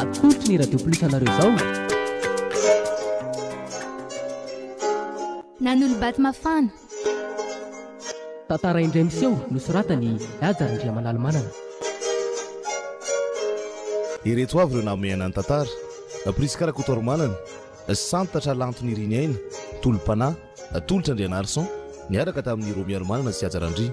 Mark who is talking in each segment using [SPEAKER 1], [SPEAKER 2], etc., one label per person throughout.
[SPEAKER 1] Atolotry ny Radio Plus anareo izao.
[SPEAKER 2] Nanolo-bato mafana. Tantara
[SPEAKER 1] indray miseho nosoratan'i Haja Randriamanalomanana.
[SPEAKER 3] Ireto avy ireo namehana ny tantara, Prisca Rakotoarimanana, Santatra Lanto Niriniaina, Tolom-panahy, Tolotra Andrianarison, niaraka tamin'i Romy Harimanana sy Haja Randria.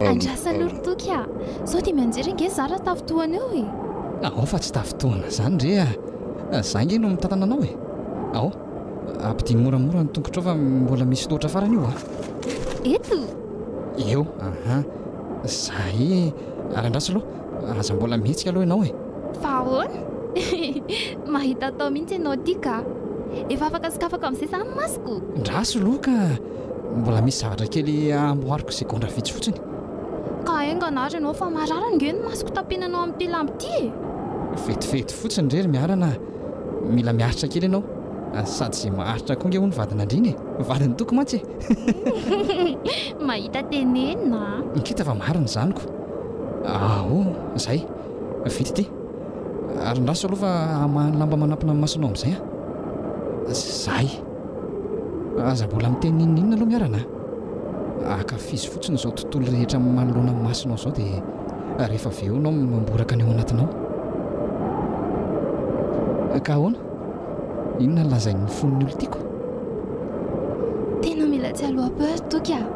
[SPEAKER 2] Andrasanao ry Toky a! Sao dia mianjera ange izaho raha tafintohana eo e! Ao fa tsy
[SPEAKER 4] tafintohana izany re a! Izaho ange no mitantana anao e! Ao, ampidino moramora ny tongotrao fa mbola misy loatra farany io a! Eto!
[SPEAKER 2] Eo,
[SPEAKER 4] aha! Zay e! Ary andraso aloha! Aza mbola mihetsika aloha ianao e! Fa ahoana?
[SPEAKER 2] Mahita atao mihitsy ianao ity ka! Efa afaka sokafako amin'izay izany ny masoko! Ndraso aloha ka!
[SPEAKER 4] Mbola misy zavatra kely amboariko izay gondra vitsy fotsiny. Ka
[SPEAKER 2] haingana ary ianao fa marary ange ny masoko tapenanao amin'ity lamba ity e! Vetivety
[SPEAKER 4] fotsiny re ry Miarana a! Mila miaritra kely ianao, sady izay maharitra koa ange hono vadin'andriana e! Vadin'ny toky mantsy e! Mahita
[SPEAKER 2] tenenina a! Ngita fa marina
[SPEAKER 4] izany ko! Aho? Zay? Vita ity. Ary andraso aloha fa hamaha ny lamba manampina ny masonao amin'izay an. Zay. Aza mbola miteny n'inon'inona aloha miarana. Akafizo fotsiny izao tontolo rehetra manoloana ny masonao izao dia rehefa avy eo nao mamboraka ny ao anatinao. Ka ahoana? Inona ny lazain'ny fon'ny olon-tiako?
[SPEAKER 2] Tena mila tsy aloha peur toky ah.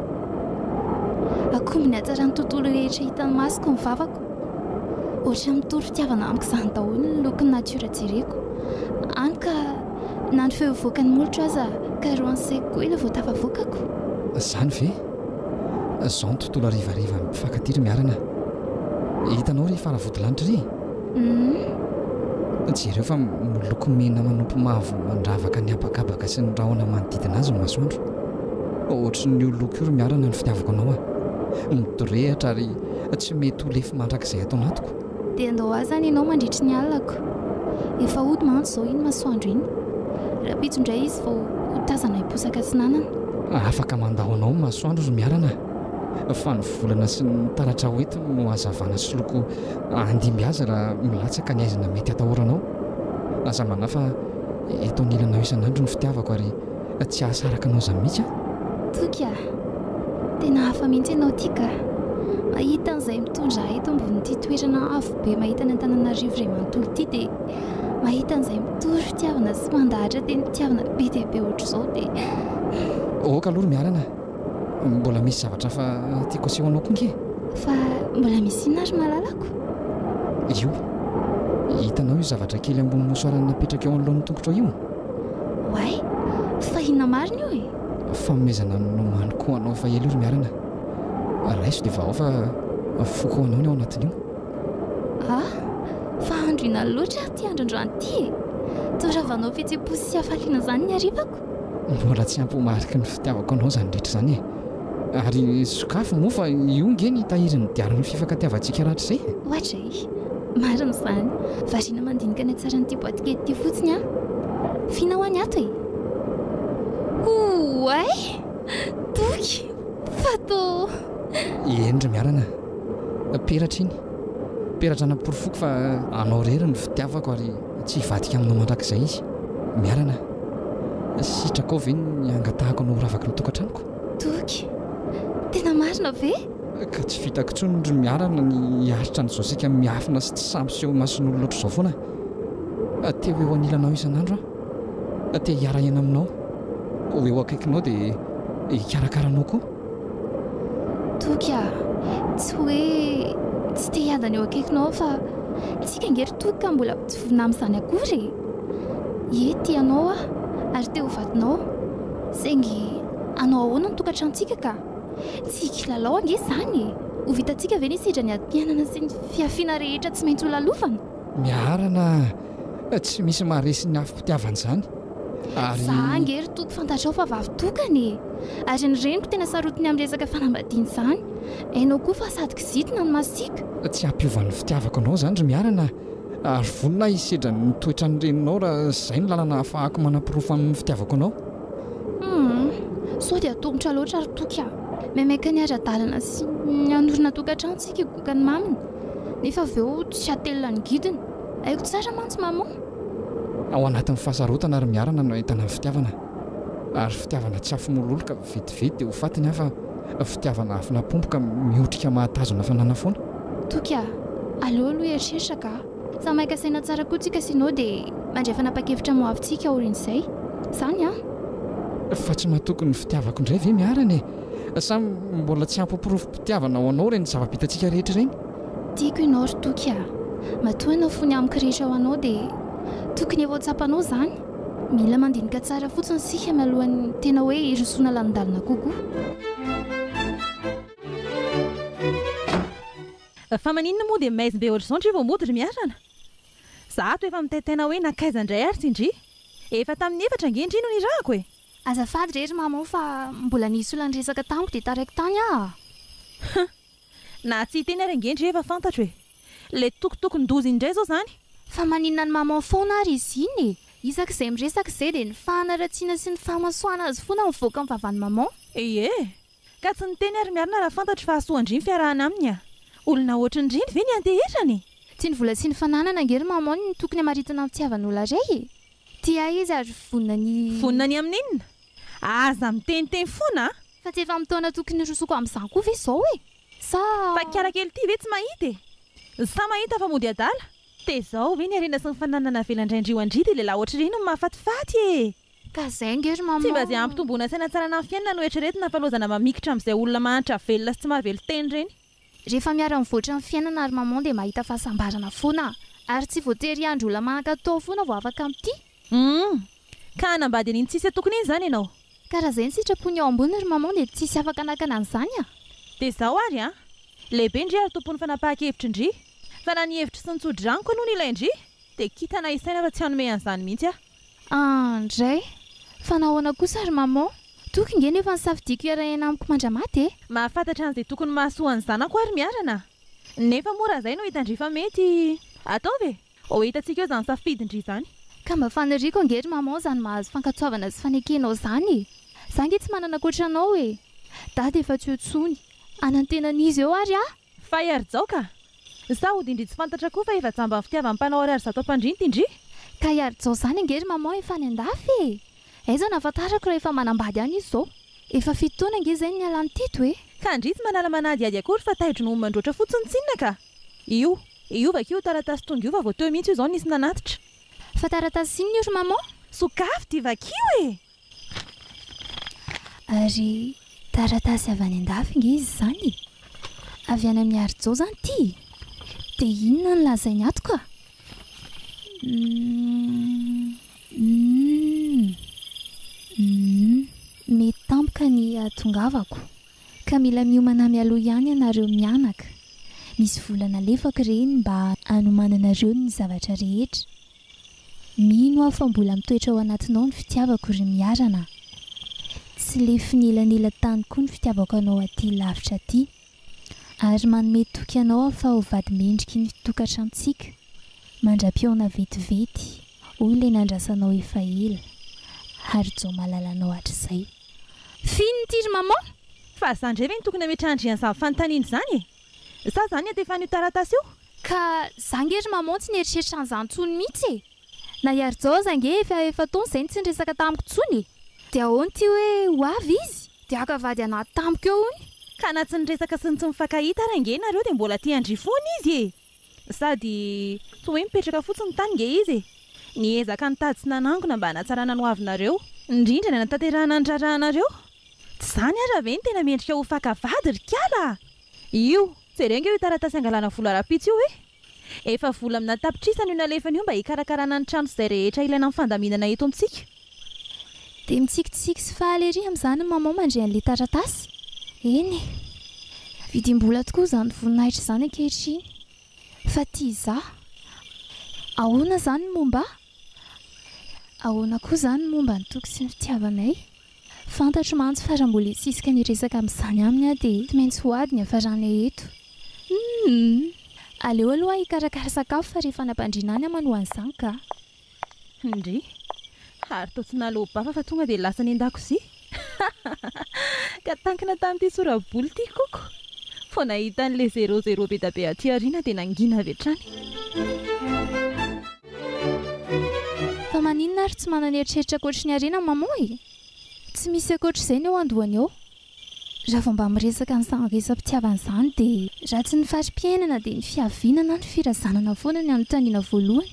[SPEAKER 2] Akoho min'ny hatsaran'ny tontolo rehetra hitan'ny masoko ny vavako. Ohatran'ny mitory fitiavana amiko izany daholo ny lokon'ny natiora jereko. Any ka na ny feo hivoakan'ny molotro aza karohan'ny saiko koa ilay vao tafavoakako. Izany ve?
[SPEAKER 4] Izao ny tontolo harivarivan'ny mpifankatia ry Miarana a! Hitanao ry faravodilanitra ry? Uhm. Jereo fa miloko mena manopy mavo mandravaka ny habakabaka sy ny rahona manodidina azy ny masoandro. Ohatrin'io loko io ry Miarana ny fitiavako anao a! Midorehitra ary tsy mety ho lefy mandrakizay ato anatiko. Dia andao aza any
[SPEAKER 2] ianao mandritry ny alinako. Efa hody mantsy izao iny masoandro iny. Rahampitso indray izy vao ho tazana hiposaka atsinanana. Afaka mandao
[SPEAKER 4] anao ny masoandro ry Miarana a! Fa ny volana sy ny taratra ho entiny no hazavana sy loko handimby azy raha milatsaka ny haizina mety hatahoranao. Aza manahy fa eto anilanao isan'andro ny fitiavako ary. Ka tsy hahasaraka anao zany mihitsy aho. Toky a!
[SPEAKER 2] Tena hafa mihitsy ianao ity ka! Mahita an'izay mitondra ahy eto ambonin'ity toerana avo be mahita an'i Antananarivo iray manontolo ity dia mahita an'izay mitory fitiavana sy mandahatra tenim-pitiavana be dia be ohatr'izao dia. Ok
[SPEAKER 4] aloha ry Mialana a! Mbola misy zavatra hafa tiako aseho anao koa ange. Fa mbola
[SPEAKER 2] misy inona ry malalako?
[SPEAKER 4] Io, hitanao io zavatra kely ambony mosoaran'ny napetraka eo anoloan'ny tongotrao io? Oay,
[SPEAKER 2] tsy tahinina marina io e! Fanomezana ny nomany
[SPEAKER 4] ko anao efa ela io ry Miarina a! Raiso dia vahao fa foko anao ny ao anatin'io. A!
[SPEAKER 2] Fa andro ina loatra ary ity andro androany ity e! Toa ravanao fihetsem-po sy hafaliana izany ny harivako. Mbola tsy ampy
[SPEAKER 4] ho mariky ny fitiavako anao izany rehetra izany e! Ary sokafy moa fa io nge ny tahirin'ny diarin'ny fifankatiavantsika rahatrizay e! Ohatra e!
[SPEAKER 2] Marina izany. Variana mandinika ny hatsaran'ity boaty kely ity fotsiny aho. F'inona hoa ny ato e? Oay! Boky! Fatô! Eny
[SPEAKER 4] ry miarana. Peratra iny. Peratra namporofoko fa anao irery no fitiavako ary tsy hivadika aminao mandrakizay izy. Miarana, sitrakao ve ny hangatahako anao ho ravaky ny tokantranoko? Toky!
[SPEAKER 2] Tena marina ve? Ka tsy vitako
[SPEAKER 4] intsony ry miarana ny hiaritra an'izao saika miafina sy tsy sampy eo imason'olona ohatr'izao foana aho. Te ho eo anilanao isan'andro aho. Te hiara-hiaina aminao. Ho eo akaikinao dia hikarakara anao koa.
[SPEAKER 2] Toky a! Tsy hoe tsy te hiadana eo akaikinao aho fa isika ange ry Toky ka mbola tsy vonona amin'izany akory e! Ie, tia anao aho ary te ho vadinao. Saingy hanao ahoana ny tokantranontsika ka? Tsy kilalao ange izany e! Ho vitantsika ve ny hisedra ny atianana sy ny fihafiana rehetra tsy maintsy holalofana? Miarana a!
[SPEAKER 4] Tsy misy
[SPEAKER 2] maharesy
[SPEAKER 4] ny afom-pitiavana
[SPEAKER 2] izany ary. Za ange ry Toky fantatrao fa vavy tokana e! Ary ny reniko tena sarotiny amin'ny resaka fanambadiana izany. Hainao koa fa sady kizitina no masiaka. Tsy hampiova ny
[SPEAKER 4] fitiavako anao izany ry Miarana a! Ary vonona aho hisedra ny toetran'ny reninao raha izay no lalana ahafahako manaporofo amin'ny fitiavako anao. Humm! Sao
[SPEAKER 2] dia atolotra loatra ry Toky a! Maimaika ny ara-dalana sy ny hanorina tokantrano isika higoka ny maminy nefa avy eo tsy hatelina ny gidiny. Haiko tsara mantsy maman! Ao
[SPEAKER 4] anatin'ny fahasarotana ry Miarana no ahitana ny fitiavana. Ary fitiavana tsy afo-mololo ka vetivety dia ho faty ny hafa, fitiavana afo nampompoka mihotrika mahatazona fanana foana. Toky a!
[SPEAKER 2] Aleo aloha hieritreritra ka! Samy maika saina tsara koa tsika sinon dia mandray fanapakevitra moavy tsika aorian'izay. Zany an!
[SPEAKER 4] Fa tsy matoky ny fitiavako indray ve miarana e? Sa mbola tsy hampiporofompitiavana ho anao ireny zava-bitantsika rehetra ireny? Tiako ianao ry
[SPEAKER 2] Toky a! Matoa anao fony amiko rehetra ho anao dia tokony efa ho tsapanao izany. Mila mandinika tsara fotsiny isika mialohan'ny tena hoe hirosoana lalindalina kokoa.
[SPEAKER 5] Fa maninona moa dia maizim be otrzao ndry vao mody ry miarana? Za ato efa mitaitaina hoe nankaiza ndray ary tsy ndry? Efa tamin'ny efatra ange ndry no nirahako e! Azafady re ry
[SPEAKER 2] mama o fa mbola nisy olona niresaka tamiko dia taraiko tany aho a! Hum!
[SPEAKER 5] Na tsy hiteny ary ange ndry efa fantatro e! Le tokotokon-doza indray zao zany! Fa maninona ny
[SPEAKER 2] maman foana ary izy iny e! Isaky izay miresaka izay dia ny fahanaratsiana sy ny fahamasoana azy foana mivoaka amin'ny vavan'i maman! Ee! Ka
[SPEAKER 5] tsy niteny ary miarina raha fantatro fa hasoa an-dry ny fiarahana aminy a! Olona ohatrin'ny reny ve ny antehetrany e! Tsy ny vola sy
[SPEAKER 2] ny fananana ange ry maman no tokony hamaritina ny fitiavan'olona ray e! Tia ahy izy ary vonona ny. Vonona ny amin'ny inona?
[SPEAKER 5] Aza miteniteny foana a! Fa tsy efa amin'ny taona
[SPEAKER 2] tokony hirosoako amin'izany koa ve izao e! Sa. Mpakikara
[SPEAKER 5] kely ity ve tsy mahita e! Sa mahita fa mody adala? Tezao ve ny harena sy ny fananana avela indray an-dry ho an-dry dia lehilahy ohatr'ireny no mahafatifaty e! Ka zay ange
[SPEAKER 2] ry maman. Tsy mba ze hampitomboana saina
[SPEAKER 5] tsy hanana ny fiainana no eritreretina fa lozana mamikitra amzay olona mahantra velona sy tsy mahavelo teny reny. Rehefa miara
[SPEAKER 2] mivoatra ny fiainana ry maman dia mahita fahasambarana foana. Ary tsy voatery hiandry olona manan-katao foana vao afaka mitia. Humm.
[SPEAKER 5] Ka hanambady an'iny tsisy atokony iny zany ianao? Ka raha zay ny sitrapony
[SPEAKER 2] eo ambony ry maman dia tsisy afaka hanakana an'izany a! Dia zao
[SPEAKER 5] ary an! Lehibe ndry ary tompon'ny fanapahan-kevitry ndry. Fa na ny hevitro sy ny tso-draniko aloha no ilain-dry dia kitana isaina fa tsy hanome an'izany mihitsy aho. An, ndray!
[SPEAKER 2] Fa nahoana kosa ry maman? Toky nge nefa nisafidiako hiara-hiaina amiko mandra-maty e! Mahafantatra an'izay
[SPEAKER 5] tokony mahasoa ny zanako ary miarana. Nefa moa raha izay no hitan-dry fa mety, ataovy e! Ho hitantsika eo izany safidin-dry izany. Ka mba faniriako
[SPEAKER 2] ange ry maman izany mahazo fankatsoavana sy fanekenao izany e! Za nge tsy manana ankoatra anao e! Dada efa tsy eo tsony. Hanantena an'iza eo ary aho? Fay ary jao ka!
[SPEAKER 5] Sa hody indry tsy fantatra koa fa efa jamban'ny fitiavan'ny mpanao ariary zato ampandrinty indry? Kay ary jao
[SPEAKER 2] zany ange ry maman efa any andafy e! Aiza no ahafantarako raha efa manambady any izy zao? Efa fito taona ange zay no nialany tito e! Ka ndry tsy manala
[SPEAKER 5] manadihady akory fa taidro no homandroatra fotsiny tsinona ka! Io. Io vakio io taratasy tonga io fa vao teo mihitsy io zao nisy nanatitra. Fa taratasy
[SPEAKER 2] inona io ry maman? Sokafy dia
[SPEAKER 5] vakio e!
[SPEAKER 2] Ary taratasy avy any an-dafy ange izy izany e! Avy any amin'i Harijao izany ity e! Dia inona no lazainy ato ka? Humm. Humm. Mety tampoka ny hahatongavako, ka mila miomana mialoha ihany ianareo mianaka. Misy vola nalefako ireny mba hanomananareo ny zavatra rehetra. Mino aho fa mbola mitoetra ao anatinao ny fitiavako ry Miarana a! Tsy lefin' elan'ela tany koa ny fitiavako anao aty lavitra aty. Ary manome toky anao aho fa ho vady mendriky ny tokatrantsika, mandra-pihaona vetivety, hoy ilay nandrasanao efa ela, Harijaomalala anao hatrizay. F'inona ity ry Maman? Fa za ndray ve
[SPEAKER 5] no tokony hametra andrian'izany fanontaniana izany e? Sa za niantefan'io taratasy io? Ka za nge
[SPEAKER 2] ry maman tsy nieritreritra an'zany tsony mitsy e! Na i Arijao za nge efa efa-taona zay no tsy niresaka tamiko tsony e! De ahoana ty hoe ho avy izy de haka vady anaty tamiko eo hono? Ka na tsy niresaka
[SPEAKER 5] sy ny tsy mifankahita ary ange nareo de mbola tia an-dry foana izy e! Sady toa hoe mipetraka fotsiny tany nge izy e! Niezaka nitady sy nanangona mba hanatsarana ny ho avinareo, indrindra ny hanatanterahana ny raharahanareo. Tsy izany ara ve ny tena mendrika ho faka vady ry kiala a! Io, jereo nge io taratasy hangalana vola rahampitso io e! Efa vola amina tapitrisany io nalefany io mba hikarakarana ny trano sy izay rehetra ilaina amin'ny fandaminana eto amintsika. Dia
[SPEAKER 2] mitsikitsiky sy faly ery amin'izany i Maman mandre an'ilay taratasy. Eny e! Vidim-bola tokoa izany voninahitra izany ankehitriny. Fa tia izaho. Ahoana izany ny momba ahy? Ahoana koa izany ny momba ny toky sy ny fitiavanay? Fantatro mantsy fa raha mbola hisisika ny hiresaka amin'izany aminy aho dia tsy maintsy ho ady ny hafaranay eto. Humm! Aleo aloha aho hikarakara sakafo fa rehefa nampandriana any aho manoha an'izany kah! Ndrii.
[SPEAKER 5] Ary toa tsy naloa-bafa fa tonga dia lasa any an-dakozia. Ka tankina tamin'ity sora-boly ity Coco. Vao nahita an'ilay zéro zéro be dia be aty aoriana dia nangina avy hatrany.
[SPEAKER 2] Fa maninona ary tsy manana eritreritra ankoatry ny harena maman e? Tsy misy ankoatr'izay ny eo an-dohany ao. Raha vao mba miresaka an'izany resa-pitiavana izany dia. Raha tsy ny fari-piainana dia ny fiaviana na ny firazanana foana ny anontaniana voalohany.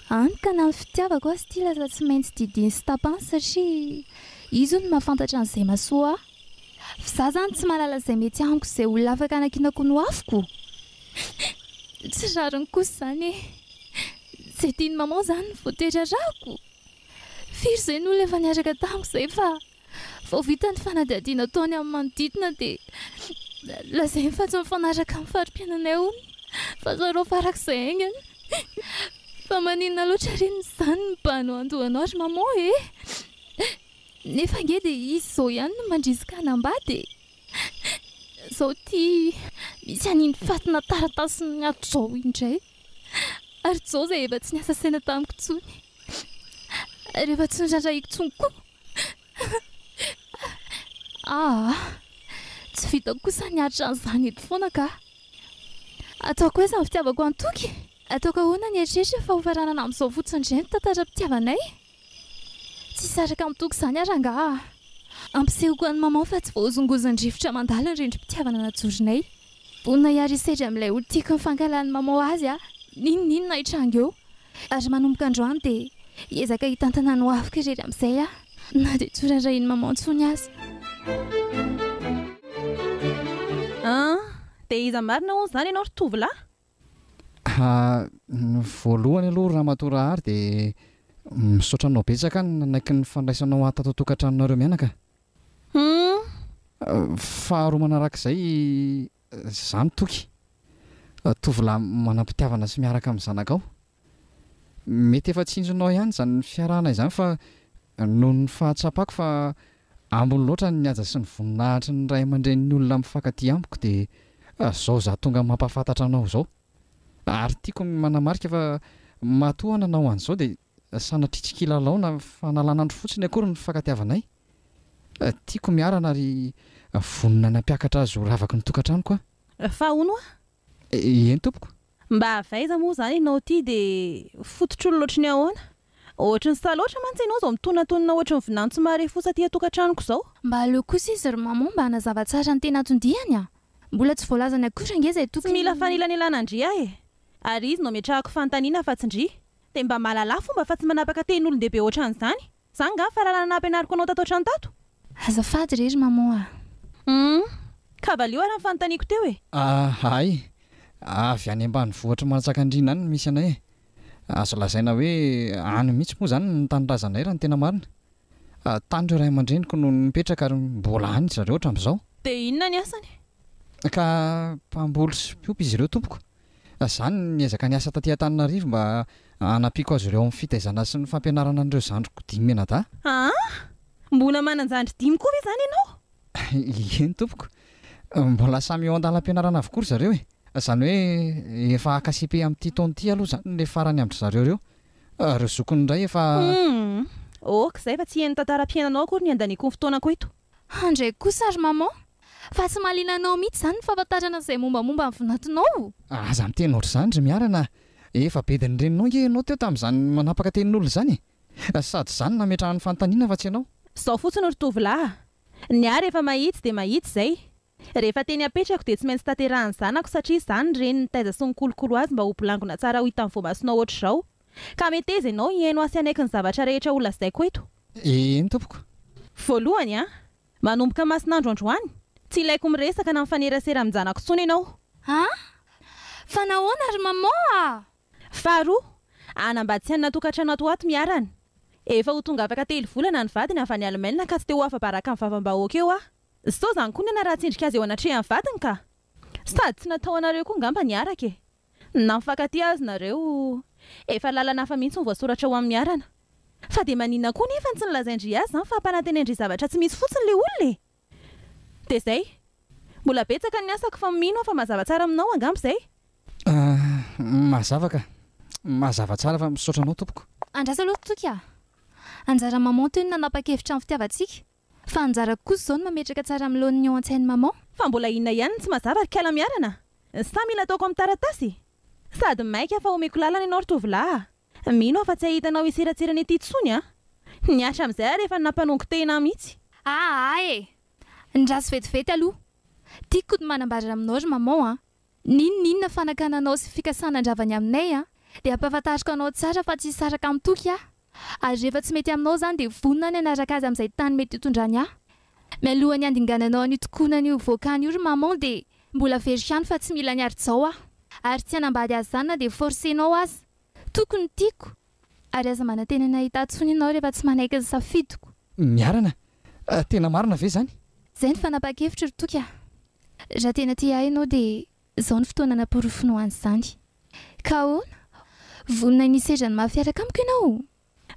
[SPEAKER 2] Hany ka na ny fitiavako azy ity lasa tsy maintsy didiany sy tapany satria izy hono mahafantatra an'izay mahasoa ahy. F'izaho izany tsy mahalala izay mety amiko izay olona afaka hanakianako ho nohafiko. Tsy rariny kosa izany e! Izay tian'i maman izany no voatery arahiko. Firy izay ny olona efa niaraka tamiko izay fa Vao vita ny fanadihadiana atao any amin'ny manodidina dia lazainy fa tsy mifanaraka amin'ny fari-piainanay hono fa zarao farak'izay haingana. Fa maninona loatra re no izany ny bano handoanao ry maman e? Nefa ange dia izy izao ihany no mandrisika hanambady e! Izao ity misy an'iny fatina taratasy niato izao indray. Ary Joe izay efa tsy niasa saina tamiko intsony. rehefa tsy norarahiko intsony koa. Ah, tsy vitako kosa ny atra an'izany eto foana ka. Ataoko aiza ny fitiavako an'i Toky? Ataoko ahoana ny eritreritra fa hofaranana amin'izao fotsiny indray ny tantaram-pitiavanay? Tsy hisaraka amin'i Toky izany ary angaha? Ampisehoko an'i Maman fa tsy voahozongozon'ny rivotra mandalo ny rindrim-pitiavana najoronay. Vonona hiaro hisedra amin'ilay ho tiako ny fankahalan'ny Maman azy aho n'inon'inona hitranga eo. Ary manomboka androany dia hiezaka hitantana ny ho aviko irery amin'izay aho na dia tsy ho raharahian'i Maman intsony aza.
[SPEAKER 5] An! Dia iza marina hono izany ianao ry tovolahy? Ha, ny
[SPEAKER 4] voalohany aloha Ramatoa Rahary dia misaotra anao betsaka nanaiky ny fandraisanao ahy tato an-tokantranonareo mianaka. Humm. Faharoa manarak'izay izany Toky. Tovolahy manam-pitiavana sy miaraka amin'ny zanakao. Mety efa tsinjonao ihany izany fiarahana izany fa noho ny fahatsapako fa ambiny loatra ny haja sy ny voninahitry ny ray aman-drenin'ny olona mifankatia amiko dia izao izaho tonga mampahafantatra anao izao. Ary tiako ny manamarika fa matoa nanao an'izao dia Sanatria tsy kilalao na fanalana andro fotsiny akory ny fifankatiavanay. Tiako miarana ary vonona ny hampiakatra azy ho ravaky ny tokantranoko aho. Fa hono hoa?
[SPEAKER 5] Eny
[SPEAKER 4] tompoko. Mba avy aiza
[SPEAKER 5] moa izany ianao ity dia fototr'olona ohatry ny ahoana? Ohatry ny sahy loatra mantsy ianao izao mitonatonona ohatry ny vilany tsy mahare fosa aty an-tokantranoko izao. Mba aleo kosa izy
[SPEAKER 2] ry maman mba hanazava tsara ny tena anton-diany an! Mbola tsy voalazany akory ange izay tokony. Tsy mila fanelanelana
[SPEAKER 5] ndry aho e! Ary izy no ametrahako fanontaniana fa tsy ndry. Dia mba malalà fomba fa tsy manapaka teny olon-dehibe ohatran'izany. Zany nga fahalalana nampianariko anao tato hatrany tato? Azafady re ry
[SPEAKER 2] maman a! Humm!
[SPEAKER 5] Ka valio ary ny fanontaniako teo e! Ah hay!
[SPEAKER 4] Avy any ambanivohitr'i Manjakandriana any no misy anay e! Azo lazaina hoe any mihitsy moa izany ny tanindrazanay raha ny tena marina. Tany ireo ray aman-dreniko no nipetraka ary mbola any ry zareo hatramin'izao. Dia inona ny asany?
[SPEAKER 5] Ka
[SPEAKER 4] mpamboly sy mpiompy izy ireo tompoko. Izany ny ezaka niasa taty Antananarivo mba hanampiako azy ireo amin'ny fitaizana sy ny fampianarana an'ireo zandriko dimy mianadahy. Aa!
[SPEAKER 5] Mbola manan-jandry dimy koa ve izany ianao? Ieny
[SPEAKER 4] tompoko. Mbola samy eo an-dalam-pianarana avokoa ry zareo e! Izany hoe efa haka cepe amin'ity taona ity aloha izany ilay farany amin-dry zareo ireo. Ireo zokiny indray efa. Humm! Ok
[SPEAKER 5] izay fa tsy hen'ny tantaram-piainanao akory ny handaniako ny fotoanako eto. Handray kosa
[SPEAKER 2] ry maman. Fa tsy mahaliana anao mihitsy izany ny fahafantarana izay mombamomba ny vinatinao? Aza miteny
[SPEAKER 4] ohatr'izany ry Miarana a! Efa bedin'ny reninao ange ianao teo tamin'izany manapaka tenin'olona izany e! Sady izany nametrahany fanontaniana fa tsy ianao. Zao fotsiny ry
[SPEAKER 5] tovolahy a! Ny ahy rehefa mahitsy dia mahitsy izay. Rehefa teny apetrako dia tsy maintsy tanterahin'ny zanako satria izaho ny reniny nitaiza sy nikolokolo azy mba ho bolangona tsara ho hitan'ny voamasonao hoatr'izao. Ka meteza ianao hihaino ahy sy hanaiky ny zavatra rehetra holazaiko eto. Eny tompoko.
[SPEAKER 4] Voalohany an!
[SPEAKER 5] Manomboka Mason'andro androany, tsy ilaiko miresaka na mifanerasera amin-janako intsony ianao. An!
[SPEAKER 2] Fa nahoana ry maman a! Faharoa,
[SPEAKER 5] hanambady sy hanana tokantrano ato ho ato miarana. Efa ho tonga afaka telo volana ny vadiny avy any Allemagne ka tsy te ho afa-baraka amin'ny vavam-bahoaka eo aho. Zto zany koa ny anarah tsendrika azy eo anatrehan'ny vadiny ka! Sady tsy natao anareo koa ngamba ny araka e! Na mifankatia aza nareo, efa lalana hafa mihitsy no voasoratra ho amin'ny arana. Fa dia maninona koa nefa no tsy nolazain-dry azy zany fa hampanantenain-dry zavatra tsy misy fotsiny le olona e! Dia zay! Mbola betsaka ny asako fa mino aho fa mazava tsara aminao angamba izay? Ahh, mazava ka!
[SPEAKER 4] Mazava tsara fa misaotra anao tompoko. Andraso aloha toky a!
[SPEAKER 2] Anjaran'i maman Tony nanapa-kevitra ny fitiavantsika. Fa anjarako kosa zao ny mametraka tsara amin'ny laoniny ao antsain'i maman. Fa mbola inona ihany no
[SPEAKER 5] tsy mazava ry kala miarana? Sa mila ataoko amin'ny taratasy e? Sady maika fa omeko lalana ianao ry tovolahy a! Mino aho fa tsy hahita anao hiseratsirana ety intsony an! Ny asa amin'izay ary efa nampanongo-tehina ahy mihitsy. Aa e!
[SPEAKER 2] Ny ratsy vetivety aloha. Tiako ny manambara aminao ry maman an! N'inon'inona fanakananao sy fikasana handravany aminay an! Dia ampahafantariko anao tsara fa tsy hisaraka amin'ny toky aho. Ary rehefa tsy mety aminao izany dia vonona aho ny hanaraka azy amin'izay tany mety hitondrany ahy. Mialohan'ny handingananao an'io tokonana io voakany io ry maman dia mbola very ihany fa tsy mila ny harijao aho. Ary tsy hanambady azy izany na dia forcenao aza. Tokony tiako. Ary aza manantena ny hahita ahy intsony ianao rehefa tsy manaiky ny safidiko. Miharana,
[SPEAKER 4] tena marina ve izany? Izay no fanapahan-kevitro
[SPEAKER 2] ry Toky a! Raha tena tia ahy ianao dia izao no fotoana hanaporofoanao an'izany. Ka ahoana? Vonona ny hisedra ny maha-fiaraka amiko ianao?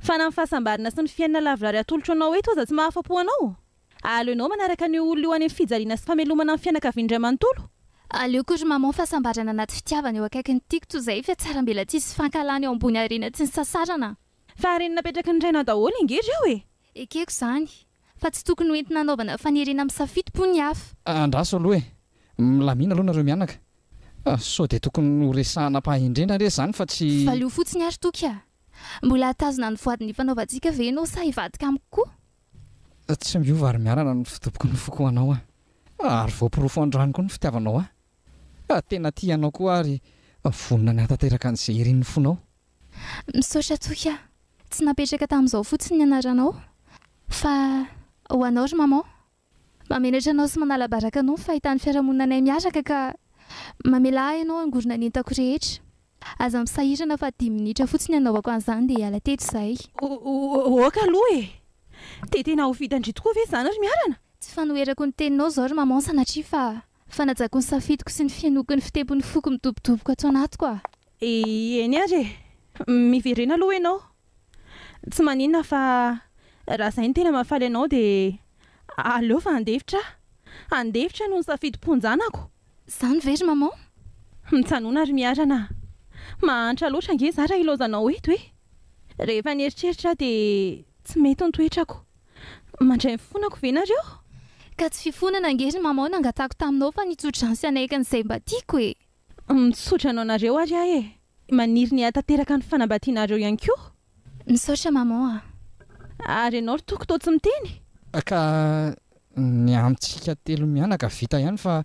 [SPEAKER 2] Fa na ny
[SPEAKER 5] fahasambarana sy ny fiainana lavorary atolotro anao eto aza tsy mahafa-po anao? Aleonao manaraka an'io olona io any amin'ny fijaliana sy famelomana ny fianakaviany indray manontolo? Aleoko ry maman
[SPEAKER 2] fahasambarana anaty fitiavana eo akaikin'ny tiako toy izay fa tsara mbela tsisy fankahalana eo ambony harena tsy nisasarana. Fa harena napetraky
[SPEAKER 5] ny rainao daholo ange reo e! Ekeko izany.
[SPEAKER 2] Fa tsy tokony ho entina anaovana fanerena misafidy po ny hafa. Andraso aloha e!
[SPEAKER 4] Milamina aloha nareo mianaka. Sao dia tokony ho resahana am-pahendrena re izany fa tsy. Valio fotsiny ary Toky
[SPEAKER 2] a! Mbola hatazona ny voady nifanaovantsika ve ianao sa hivadika amiko koa? Tsy miova ary miharana
[SPEAKER 4] ny fidoboky ny foko ho anao aho. Ary voaporofo androany koa ny fitiavanao ahy. Tena tia anao koa aho ary vonona ny hahatanteraka an'izay irin'ny fonao. Misaotra
[SPEAKER 2] toky aho. Tsy napetraka tamin'izao fotsiny ny anaranao fa ho anao ry Maman. Mahamenatra anao sy manala baraka anao ny fahitany fiarahamoninanay miaraka ka mamelà ahy ianao hangorona ny entako rehetra. Aza misahirana fa dimy minitra fotsiny hanaovako an'izany dia hiala teto izahay. Ôka
[SPEAKER 5] aloha e! Dia tena ho vita ndry tokoa ve izany ry Miarana? Tsy fanoherako ny
[SPEAKER 2] teninao izao ry Maman sanatria fa fanajako ny safidiko sy ny fihenoako ny fitempon'ny foko midobodoboko ato anatiko aho. Eny ary
[SPEAKER 5] e! Miverena aloha ianao Tsy maninona fa raha izay no tena mahafaly anao dia aleo fa handefitra aho. Handefitra no nisafidim-ponjanako. Izany ve ry
[SPEAKER 2] Maman? Mitsanona
[SPEAKER 5] ry Miharana a! Mahantra loatra ange izaho raha ilaozanao eto e! Rehefa nieritreritra aho dia tsy mety ny toetrako. Mandray ny fifonako ve nareo? Ka tsy
[SPEAKER 2] fifonana ange ry Maman no nangatahako taminao fa nitso-dransy hanaiky an'izay mba tiako e! Misaotra anao
[SPEAKER 5] nareo ary aho e! Maniry ny hahatanteraka ny fanambatianareo ihany koa. Misaotra maman
[SPEAKER 2] a. Ary ianao
[SPEAKER 5] ry Toky toa tsy miteny? Ka
[SPEAKER 4] ny antsika telo mianaka vita ihany fa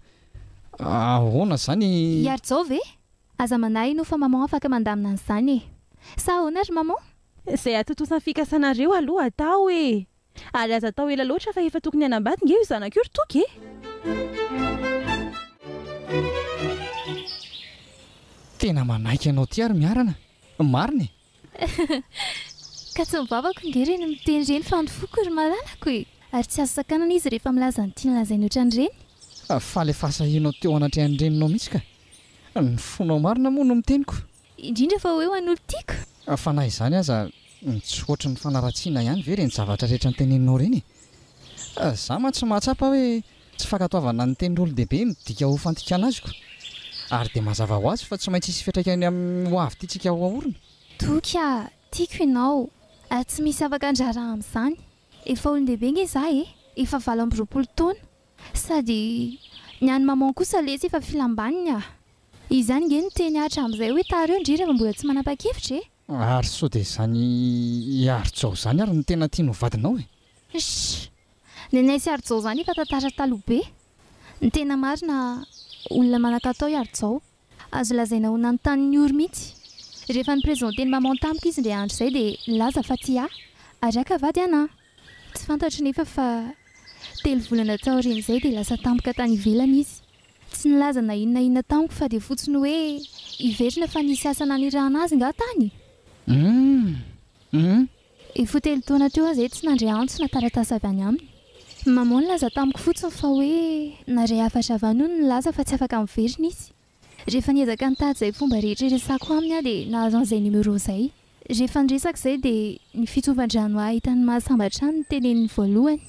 [SPEAKER 4] ahoana zany? Iharijao ve?
[SPEAKER 2] Aza manahy inoa fa maman afaka mandamina an'izany e! Sa ahoana ry maman? Izay atontosan'ny
[SPEAKER 5] fikasanareo aloha atao e! Ary aza atao ela loatra fa efa tokony hanambady nge io zanako io ry Toky e!
[SPEAKER 4] Tena manaiky anao ty ary miarana, marina e!
[SPEAKER 2] Ka tsy ny vavako nge re no miteny ireny fa ny foko ry malalako e! Ary tsy azo sakanana izy rehefa milaza ny tiany lazainy otran'ireny. Faly efa
[SPEAKER 4] asahianao teo anatrehan'ny reninao mihitsy ka! Ny fonao marina moa no miteniko. Indrindra fa hoe ho
[SPEAKER 2] an'olo tiako. Fa na izany
[SPEAKER 4] aza ny tsy ohatry ny fanaratsiana ihany ve ireny zavatra rehetra noteneninao ireny e? Za mantsy mahatsapa hoe tsy fankatoavana ny tenin'olon-dehibe midika ho fandikana azy ko. Ary dia mazava ho azy fa tsy maintsy hisy fiantraikany amin'ny ho avy tiantsika ho aorina. Toky a!
[SPEAKER 2] Tiako ianao ary tsy misy afaka handrara amin'izany. Efa olon-dehibe nge za e! Efa valo amby roapolo taona. Sady ny an'i maman kosa lesy efa filam-baniny ah! Izany nge no teny Atra amin'izay hoe tareo ndry rehefa mbola tsy manapa-kevitra e! Ary sao dia izany
[SPEAKER 4] i Arijao izany ary no tena tiany ho vadinao e! Sh!
[SPEAKER 2] Ny anay sy Arijao izany efa tantara taloha be! Ny tena marina olona manan-katao i Arijao. Azo lazaina ho nanontany ny ory mihitsy. Rehefa ni-presenter ny maman tamiko izy indray andro izay dia nilaza fa tsy ahy ary haka vady anà. Tsy fantatro nefa fa telo volana taorian'izay dia lasa tampoka tany ivelany izy. Tsy nilaza na inona na inona tamiko fa dia fotsiny hoe hiverina fa nisy asa nanirahana azy ngah tany? Humm humm Efa telo taona teo aho izay tsy nandre antso na taratasy avy any aminy. Ny Maman nilaza tamiko fotsiny fa hoe narehafatra avy any hono ny laza fa tsy afaka miverina izy. Rehefa niezaka nitady izay fomba rehetra hiresako aminy aho dia nahazo an'izay numéro izay. Rehefa niresaka izay dia ny fitsovan-drano ahy tany Mahasamba hatrany no teneniny voalohany.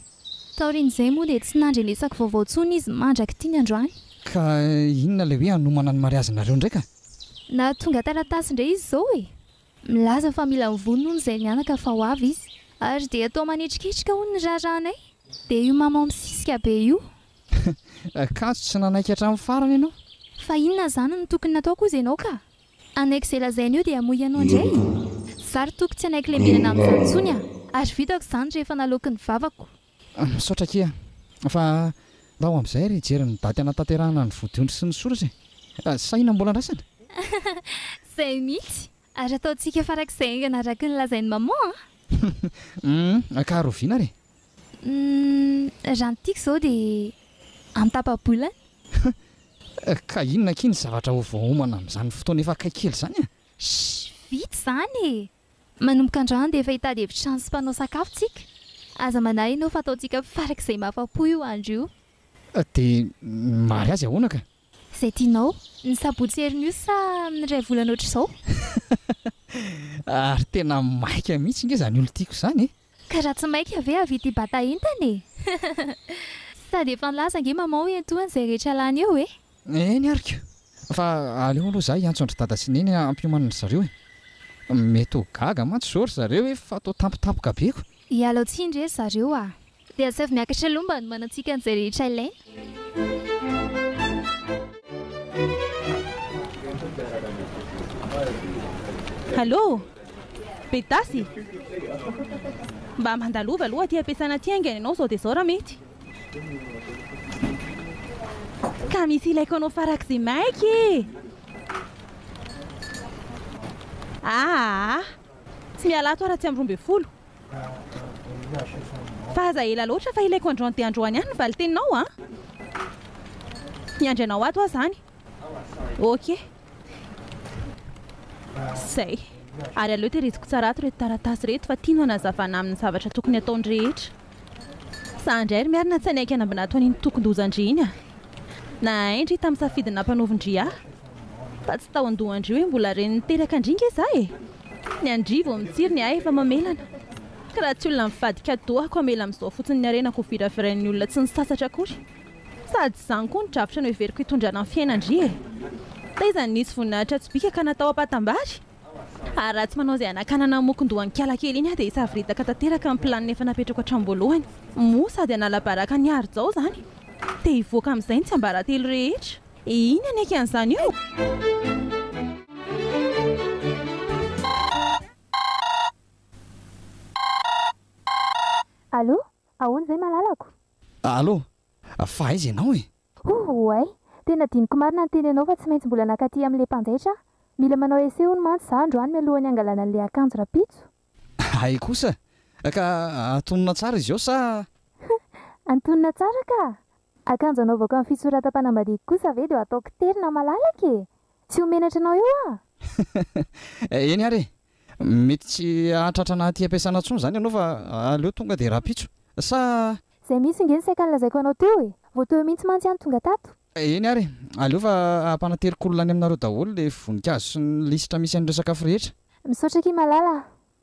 [SPEAKER 2] Taorian'izay moa dia tsy nandrenesako vaovao intsony izy mandrak'ity ny androany. Ka
[SPEAKER 4] inona ilay hoe hanomana ny mariazinareo indray ka? Nahatonga
[SPEAKER 2] taratasy indray izy izao e! Milaza fa mila mivony hono izay mianaka fa ho avy izy. Ary dia toa manetriketrika hono ny raharahanay. Dia io maman misisika be io.
[SPEAKER 4] Akanjo tsy nanaiky hatramin'ny farany ianao. Fa inona izany
[SPEAKER 2] no tokony natao koza ianao ka? Hanaiky izay lazainy eo dia hamoy anao indray e! Za ry toky tsy hanaiky lembenana amin'izany intsony a! Ary vitako izany rehefa naloaky ny vavako. Misaotra akia
[SPEAKER 4] a! Fa ndao amin'izay ary hijery ny daty hanatanterahana ny vodiondry sy ny source e! Sahina mbola andrasana?
[SPEAKER 2] Izay mihitsy! Ary ataontsika farak'izay haingana araky ny lazain'i maman a! Humm!
[SPEAKER 4] Ka rahoviana ary e? Humm!
[SPEAKER 2] Raha ny tiako izao dia an-tapa-bolana! Humm!
[SPEAKER 4] Ka inona akia ny zavatra ho voaomana amin'izany fotoana efa akaiky kely izany a? Shh! Vita
[SPEAKER 2] izany e! Manomboka androany dia efa hitady efitrano sy mpanao sakafo tsika. Aza manahy enao fa ataontsika farak'izay mahafa-po io andro io. Dia
[SPEAKER 4] mary azy ahoana ka? Izay tianao.
[SPEAKER 2] Ny sabotsy heriny io sa amin'ny iray volana ohatr'izao? Ary
[SPEAKER 4] tena maika mihitsy nge izany olon-tiako izany e! Ka raha tsy maika
[SPEAKER 2] ve avia ity bata entana e! Sady efa nilaza ange maman hoe entohany izay rehetra lany eo e! Eny ary ka!
[SPEAKER 4] Fa aleo aloha izaho hiantso an-dry dada sy neny hampiomanana ry zareo e! Mety ho gaga mantsy izao ry zareo e fa toa tampotampoka be ko! Ialao tsiny re ry
[SPEAKER 2] zareo a! Dia asaivo miakatra aloha mba hanomanantsika an'izay rehetra ilaina.
[SPEAKER 5] Allô! Bedasy! Mba mandalova aloha aty am-piasana aty haingana ianao izao dia izao raha mety. Ka misy ilaiko anao farak'izay maika e! Aa! Tsy miala ato aho raha tsy amin'ny roa ambin'ny folo fa aza ela loatra fa ilaiko androany dia androany ihany ny valin-teninao an! Miandry anao ato aho izany. Ok. Izay. Ary aleo tehiriziko tsara ato ireto taratasy ireto fa tiany hanazavana aminy ny zavatra tokony hataony rehetra. Sahy indray ry Miarina tsy hanaiky hanambinato an'iny tokin-dozan-dry iny a! Nahay-ndry tamin'ny safidy nampanaovin-dry ahy. Fa tsy tao an-dohan-dry hoe mbola reny niteraka an-dry nge za e! Ny an-dry vao mitsiry ny ahy efa mamelana. Ka raha tsy olona mivadika dohako hamela amin'izao fotsiny ny harenako ho viravirain'ny olona tsy nisasatra akory. Sady izany koa no drafitra noheveriko hitondrana ny fiainan-dry e! Taiza ny nisy voninahitra tsy bika ka natao ampatam-bary? Ary raha tsy manao izay hanakanana ny mokon-dohan-kialakely iny aho dia hisavoritaka tanteraka ny planina efa napetrako hatramboalohany. Moa sady hanala baraka an'i Harijao izany? Te hivoaka amin'izay ny tsiambaratelo rehetra. Iny haneky an'izany io!
[SPEAKER 2] Allô? Ahoana izay malalako? Allô?
[SPEAKER 4] Fa aiza ianao e? Ouh ouay!
[SPEAKER 2] Tena adinoko marina ny teny anao fa tsy maintsy mbola nakaty amin le mpanjaitra aho. Mila manao essai hono mantsy za androany mialohan'ny hangalana an'le akanjo rapitso. Hay kosa!
[SPEAKER 4] Ka atonona tsara izy eo sa? Hum! Antonona
[SPEAKER 2] tsara ka! Akanjo anaovako amin'ny fitsoratam-panambadiako kosa ve dia ho ataoko tery na malalaka e! Tsy ho menatra anao eo aho!
[SPEAKER 4] Eny ary e! Mety tsy hahatratra an'aty ampiasana intsony izany ianao fa aleo tonga dia rahampitso. Sa. Izay mihitsy ange ny
[SPEAKER 2] saika nolazaiko anao teo e! Vao teo eo mihitsy mantsy aho no tonga tato. Eny ary e!
[SPEAKER 4] Aleo fa hampanaterik-olona any aminareo daholo ilay voninkazo sy ny lisitra misy an'ireo sakafo rehetra. Misaotra akia malala
[SPEAKER 2] a!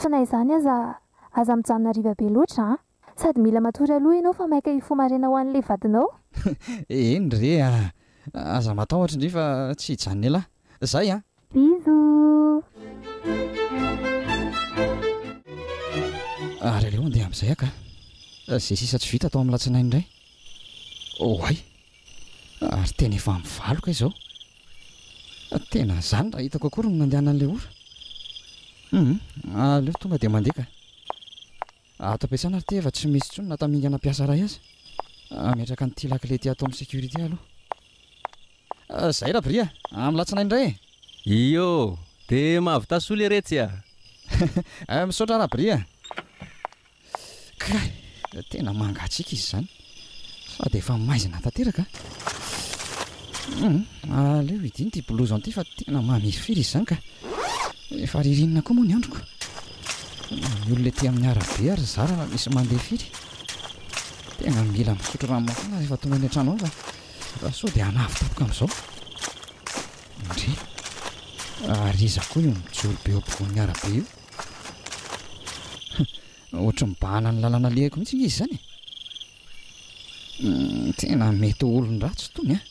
[SPEAKER 2] Fa na izany aza, aza mijanona hariva be loatra an! Sady mila matory aloha ianao fa maika hifoha maraina ho an'ilay vadinao. Eny
[SPEAKER 4] re a! Aza matahotra indray fa tsy hijanon'elah. Zay an!
[SPEAKER 2] Bisous!
[SPEAKER 4] Ary aleo handeha amin'izay aho kah! Izay sisa tsy vita atao amin'ny latsinainy indray. Oay! Ary tena efa mivaloka izao. Tena izany raha hitako akory ny nandehanan'ilay ora. Hum, aleo tonga dia mandeha ka. Ato am-piasana ary ity efa tsy misy intsony na tamingana mpiasa iray aza. Hametraka an'ity lakile ity ato amin'ny sécurité aloha. Izay Rabry a! Amin'ny alatsinainy indray
[SPEAKER 6] e! Iô!
[SPEAKER 4] Dia mahavita
[SPEAKER 6] soa
[SPEAKER 4] leiretsy
[SPEAKER 6] a!
[SPEAKER 4] Misaotra Rabry a! Kay! Tena mangatsiaka izy izany sady efa maizina tanteraka an! Aleo hidino ity blouson ity fa tena mamirifiry izy izany ka! Efa ririnina koa moa ny androko. Ny olona ety amin'ny arabe ary zara raha misy mandeha firy. Tena mila misotro rano mafana rehefa tonga any an-trano ao fa fa sao dia hanavo tampoka amin'izao. Ndry! Ary iza koa io mijoro be eo ampovoan'ny arabe io? Ohatry ny bahana ny lalana alehako mihitsy nge izy izany e. Hmm, tena mety ho olon-dratsy itony an.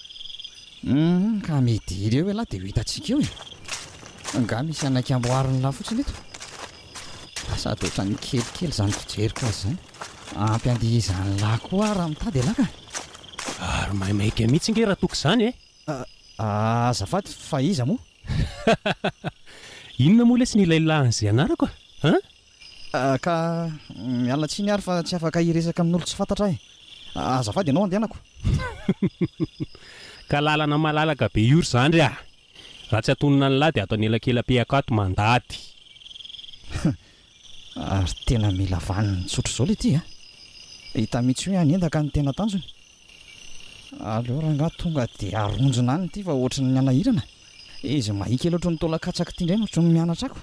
[SPEAKER 4] Hmm, ka midily eo ialahy dia ho hitantsika eo e. Angaha misy hanaiky amboariny lahy fotsiny eto. Sady ohatran'ny kelikely izany fijeriko azy izany. Ampy andihy izany lahy koa aho raha mitady ialahy ka. Ary
[SPEAKER 6] maimaika mihitsy nge raha toky izany e. Ah, ah,
[SPEAKER 4] azafady, fa iza moa?
[SPEAKER 6] Inona moa lesy ny ilay lahin'izay anarako a? An?
[SPEAKER 4] Ka miala tsiny ary fa tsy afaka hiresaka amin'olon tsy fantatra ahy. Azafady ianao andehanako.
[SPEAKER 6] Ka lalana malalaka be io ry zandry a! Raha tsy atonona an'lah dia ato anelakelam-pehako ato mandady.
[SPEAKER 4] Ary tena mila vaniny tsotra izao ilay ity a! Hita mihitsy hoe hanendaka ny tena tanjony. Aleo rangaha tonga dia aronjona any ity fa ohatry ny hanahirana e! Izy mahia kely ohatry ny taolan-katsaka ity indray no tsy mianatra ako.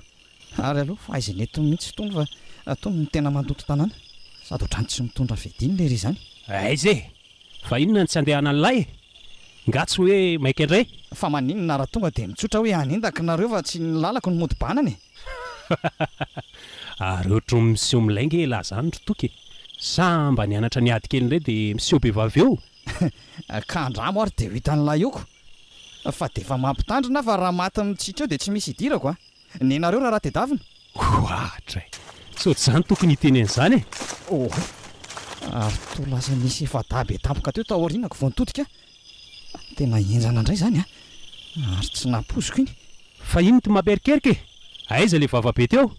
[SPEAKER 4] Ary aleo fahaizana eto mihitsy itony fa itony no tena mandoto tanàna. Sady ohatran'ny tsy mitondra fediny lery izany. Aiza e!
[SPEAKER 6] Fa inona no tsy andehanan'ilay e? Nga tsy hoe maika indray? Fa maninona raha
[SPEAKER 4] tonga dia mitsotra hoe hanendaka nareo fa tsy ny lalako no mody banana e?
[SPEAKER 6] Ary ohatry ny miseho milay nge elah zany ry Toky e! Sa mba nianatra niady kely indray dia miseho be vava eo? Ka
[SPEAKER 4] andramo ary dia ho hitan'ilay oko! Fa dia efa mampitandrina aho fa raha maty mitsitra eo dia tsy misy hidirako a! Nenareo raharaha tedavina? Goatra e!
[SPEAKER 6] Tsy ohatr'izany tokony hiteny an'izany e! Oay!
[SPEAKER 4] Ary toa lasa nisy efa-dahy be tampoka teo taorianako vao nitodika aho. Tena henjana indray izany an! Ary tsy nampoiziko iny. Fa iny ty
[SPEAKER 6] mampierikerika e! Aiza ilay vava be teo?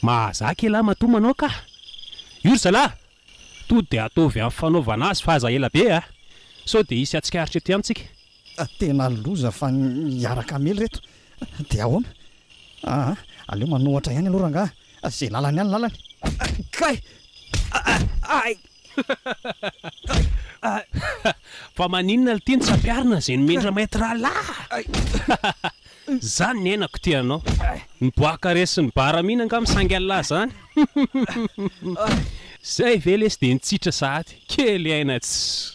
[SPEAKER 6] Mahazaka elah matoa manao kah! Io ry zalahy! Toa dia ataovy amin'ny fanaovana azy fa aza ela be a! Sao dia hisy hatsikaritra ety amitsika. Tena
[SPEAKER 4] loza fa hiaraka hamely reto de ahoana? Aa aleo manohatra ihany aloha rangaha a, ze lalany ihany lalany. Kay! Ay!
[SPEAKER 6] Fa maninona lty ny tsy ampiarina ze nomendra maître ralaha a! Zany ny aina ko ty anao. Ny boaka resy ny bar mihina angaha misangy anlah zany. Zay ve lesy de nitsitra sahady. Kely aina tsy.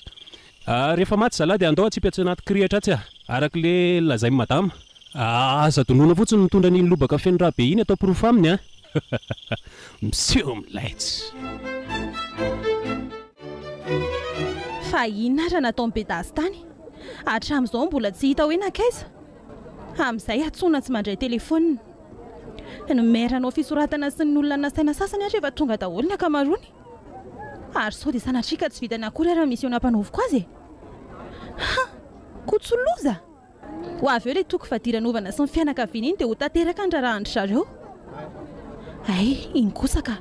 [SPEAKER 6] Ah rehefa maty zalah dia andao atsipy atsy anaty kirihitra atsy ah araka le lazaim madama ah aza donona fotsiny mitondra an'iny lobaka feno rà be iny atao porofo aminy ah miseho milaitsy.
[SPEAKER 5] Fa inona ary nataon'i Bedasy tany? Hatramin'izao mbola tsy hita hoe nankaiza? Amin'izay antsoina tsy mandray telefaonina. Nomeranao fisoratana sy ny olona nasaina sasany ary efa tonga daholo ny ankamaroany. Ary sao dia sanatria ka tsy vitany akory ary ny mission nampanaoviko azy e! Ha! Kotso loza! Ho avy eo ilay toko fadiranovana sy ny fianakaviany iny dia ho tanteraka ny raharahan-dry zareo. Hay, iny kosa ka!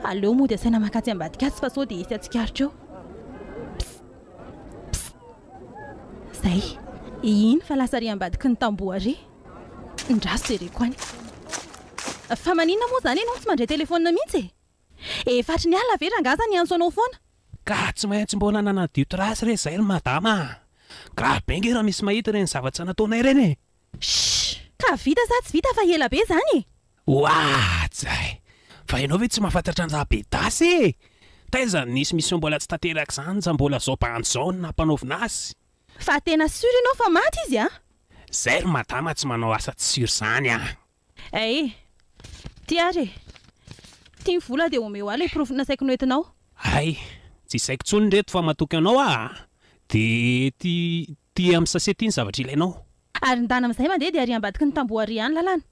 [SPEAKER 5] Aleo mody asaina mankatỳ ambadika atsy fa sao dia hisy hatsikaritra eo. Pst! Pst! Izay! Iny fa lasa ary ambadiky ny tamboho ary! Ndraso jereko any. Fa maninona moa izany ianao tsy mandray telefaonina mihitsy e? Efatry ny alina ve rangah sa niantso anao foana? Ka tsy maintsy
[SPEAKER 6] mbola nanadio trace re zay ry madama a! Grave be nge raha misy mahita ireny zavatra nataonay ireny e! Shh!
[SPEAKER 5] Ka vita sa tsy vita fa ela be izany e! Oaja
[SPEAKER 6] e! Fa ianao ve tsy mahafantatra ny Rabedasy e! Taiza no nisy mission mbola tsy tanteraka izany za mbola zao bandy zao no nampanaovina azy! Fa tena
[SPEAKER 5] sûr ianao fa maty izy a! Zay ry
[SPEAKER 6] madama tsy manao asa tsy sûr zany a! Ae.
[SPEAKER 5] Ty ary e. Ty ny vola dia omeo ahy ilay porofo nasaiko noentinao. Hay.
[SPEAKER 6] Tsy saiko intsony reto fa matoky anao aho a. Dia ty, ty amin'ny sase ty ny zavatra ilainao. Ary ndana amin'izay
[SPEAKER 5] mandeha dia ary ambadiky ny tamboho ary any lalana.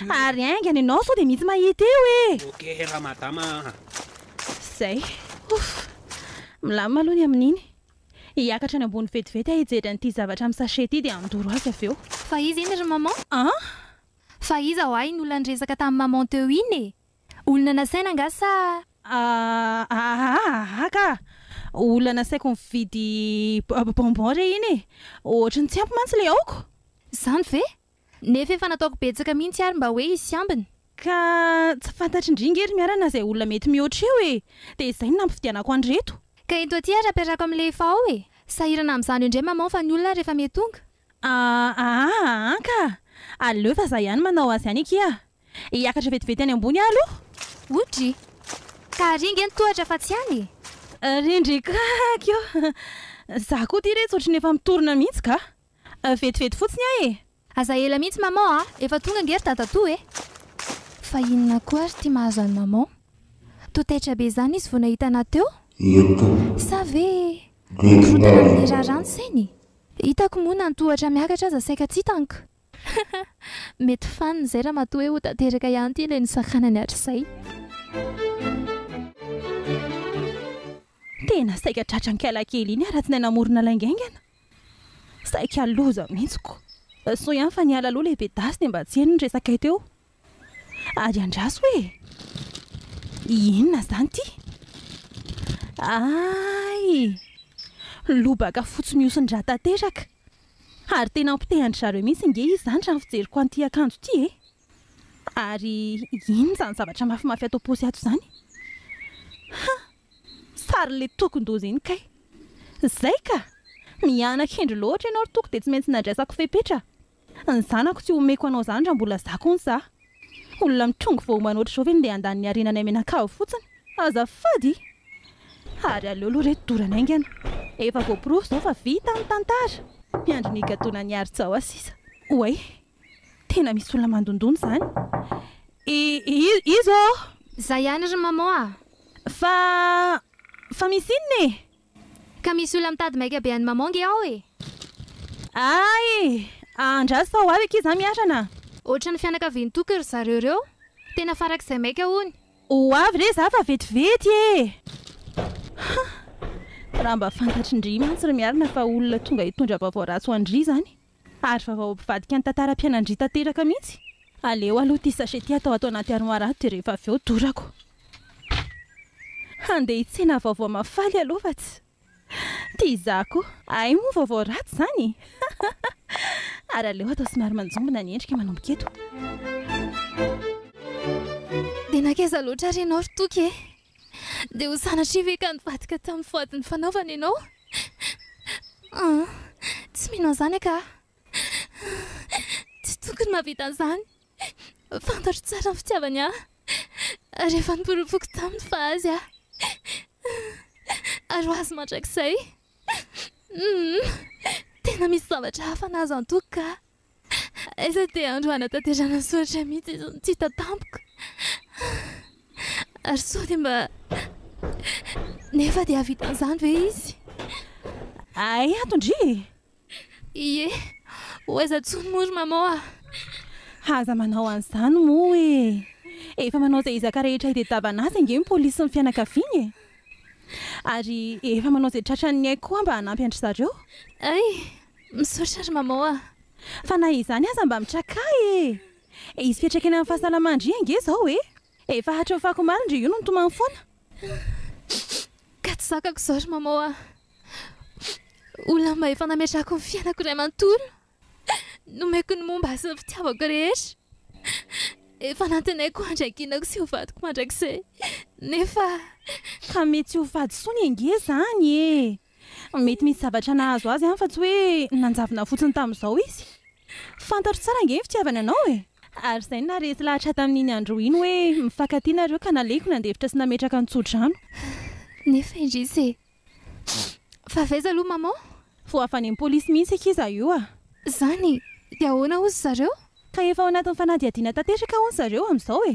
[SPEAKER 5] Ary haingana ianao sao dia mitsy mahita eo e. Ok ramadama
[SPEAKER 6] a.
[SPEAKER 5] Zay. Ouff. Milamina aloha ny amin'iny. Hiakatra any ambony vetivety aho hijery an'ity zavatra amin'ny sachet ity dia handoro azy avy eo. Fa iza iny ry maman?
[SPEAKER 2] An? Fa iza hoa iny olona niresaka tamin'i maman teo iny e? Olona nasaina angaha sa. Ahahaha
[SPEAKER 5] ka! Olona nasaiko nividy bonbon re iny e! Ohatry ny tsy ampy mantsy ilay aoka!
[SPEAKER 2] Izany
[SPEAKER 5] ve? Nefa
[SPEAKER 2] efa nataoko betsaka
[SPEAKER 5] mihintsy
[SPEAKER 2] ary mba hoe hisy ambiny. Ka
[SPEAKER 5] tsy fantatry ndry nge ry Miarana izay olona mety mihoatra eo e! Dia izay no nampividianako an'ireto. Ka ento aty ary
[SPEAKER 2] ampiarahako amin'ilay efa ao e! Sahirana amin'izany eo indray maman fa ny olona ary efa mety tonga. Aa
[SPEAKER 5] aa ka! Aleo fa za ihany manao azy any akia! Hiakatra vetivety any ambony aho aloha! O dry!
[SPEAKER 2] Ka ary nge ny tohatra fa tsy any e! Ry ndry ka!
[SPEAKER 5] Kio! Za koa ty re tsy ohatry ny efa mitorina mihintsy ka! Vetivety fotsiny aho e! Aza ela mihitsy maman
[SPEAKER 2] a! Efa tonga ange ry dadatoa e! Fa inona koa ary ity mahazo an'i maman? Toa taitra be izany izy vao nahita anà teo? Sa ve mikorontana amin'ny raharaha ny sainy? Hitako moa na ny tohatra miakatra aza saika tsy hitank! Mety fanina izay ramatoa hoe ho tanteraka ihany ity ilay nisakanany hatrizay.
[SPEAKER 5] Tena saika tratran'kala kely iny aratsinahy namorona lainga aingana. Saika loza mihitsy ko. Soa ihany fa niala aloha lehibe Dasy dia mba tsy heno ny resakay teo. Ary andraso e! Inona izany ity? Hay! Lobaka fotsy mihosin-drà tanteraka. Ary tena ampitehan-dry zareo mihitsy nge izy izany raha ny fijeriko an'ity akanjo ity e! Ary inona izany zavatra mafimafy ato am-paosy ato izany? Hah! Sary le tokon-doza iny kay. Zay ka! Miana-kendry loatra ianao ry toko dia tsy maintsy nandraisako fepetra. Ny zanako tsy omeko anao zany raha mbola zako hono za. Olona mitrongy vao omana ohatr'izao ve no ndeha handany ny harenanay mianakavy fotsiny? Azafady! Ary aleo aloha re dorana aingana. Efa voaporofo zao fa vita ny tantara. Miandry ny higadonan'i Harijao aho sisa. Oay! Tena misy olona mandondona izany. I, i, iza ô? Za ihany ry
[SPEAKER 2] maman a! Fa,
[SPEAKER 5] fa misy inona e? Ka misy olona
[SPEAKER 2] mitady maika be an'i maman nge ao e! Ah
[SPEAKER 5] e! Andraso sao avy akia za miharana. Ohatran'ny
[SPEAKER 2] fianakavian-toky ry zareo ireo. Tena farak'izay maika hono. Ho avy re za
[SPEAKER 5] fa vetivety e! Hah! Raha mba fantatry ndry mantsy ry miharina fa olona tonga hitondra vaovao ratsy ho an-dry izany. Ary vaovao mpivadika ny tantaram-piainan'dry tanteraka mihitsy. Aleo aloha ity sachet ity atao ato anaty armoire ato dia rehefa avy eo dorako. Handeha hitsena vaovao mafaly aloha fa tsy tia izaho koa. Hay moa vaovao ratsy izany? Ary aleo atao somary manjombona ny endrika manomboka eto.
[SPEAKER 2] Dia nankaiza loatra ary ianao ry Toky e? Dia ho sanatria ve ka nivadika tamin'ny voady nifanaovana ianao? Ah, tsy mino an'izany aka aho. Tsy tokony mahavita an'izany. Fantatro tsara ny fitiavany ahy. Ary efa noporofoiko taminy fa azy aho. Ary ho azy mandrakizay. Hmm, tena misy zavatra hafa nahazo antoka. Aiza ity andro hanatanterahana ny soratra mihitsy izao no tsy hita tampoka. Ary sao dia mba nefa dia hahavita an'izany ve izy?
[SPEAKER 5] Hay ato ndry e! Ie,
[SPEAKER 2] ho aiza intsony moa ry Maman a! Aza
[SPEAKER 5] manao an'izany moa e! Efa manao izay ezaka rehetra hitadiavana azy ange ny polisy sy ny fianakaviany e! Ary efa manao izay tratran'ny aiko koa mba hanampy an-dry zareo. Hay!
[SPEAKER 2] Misaotra ry Maman a! Fa na izany
[SPEAKER 5] aza mba mitraka ahy e! Hisy fiantraikany amin'ny fahasalaman-dry ange izao e! Efa hatry ny fako maro indry io no nitomany foana.
[SPEAKER 2] Ka tsy zakako izao ry Maman a! Olona mba efa nametrahako ny fiainako iray manontolo, nomeko ny momba ahy sy ny fitiavako rehetra, efa nantenaiko handry ankinako sy ho vadiko mandrakizay, nefa. Fa
[SPEAKER 5] mety tsy ho fady intsony ange izany e! Mety misy zavatra nahazo azy fa tsy hoe nanjavona fotsiny tamin'izao izy. Fantatro tsara ange ny fitiavany anao e! Ary izay no naharesy lahatra tamin'iny andro iny hoe mifankatia nareo ka nalehiko nandefitra sy nametraka ny tsodrano. Nefa
[SPEAKER 2] indrisy e! Fa avy aiza aloha maman? Voahavan'ny
[SPEAKER 5] polisy mihitsy i Kiza io a! Izany?
[SPEAKER 2] Dia ahoana hozy zareo? Ka efa ao anatin'ny
[SPEAKER 5] fanadihadiana tanteraka hono zareo amin'izao e!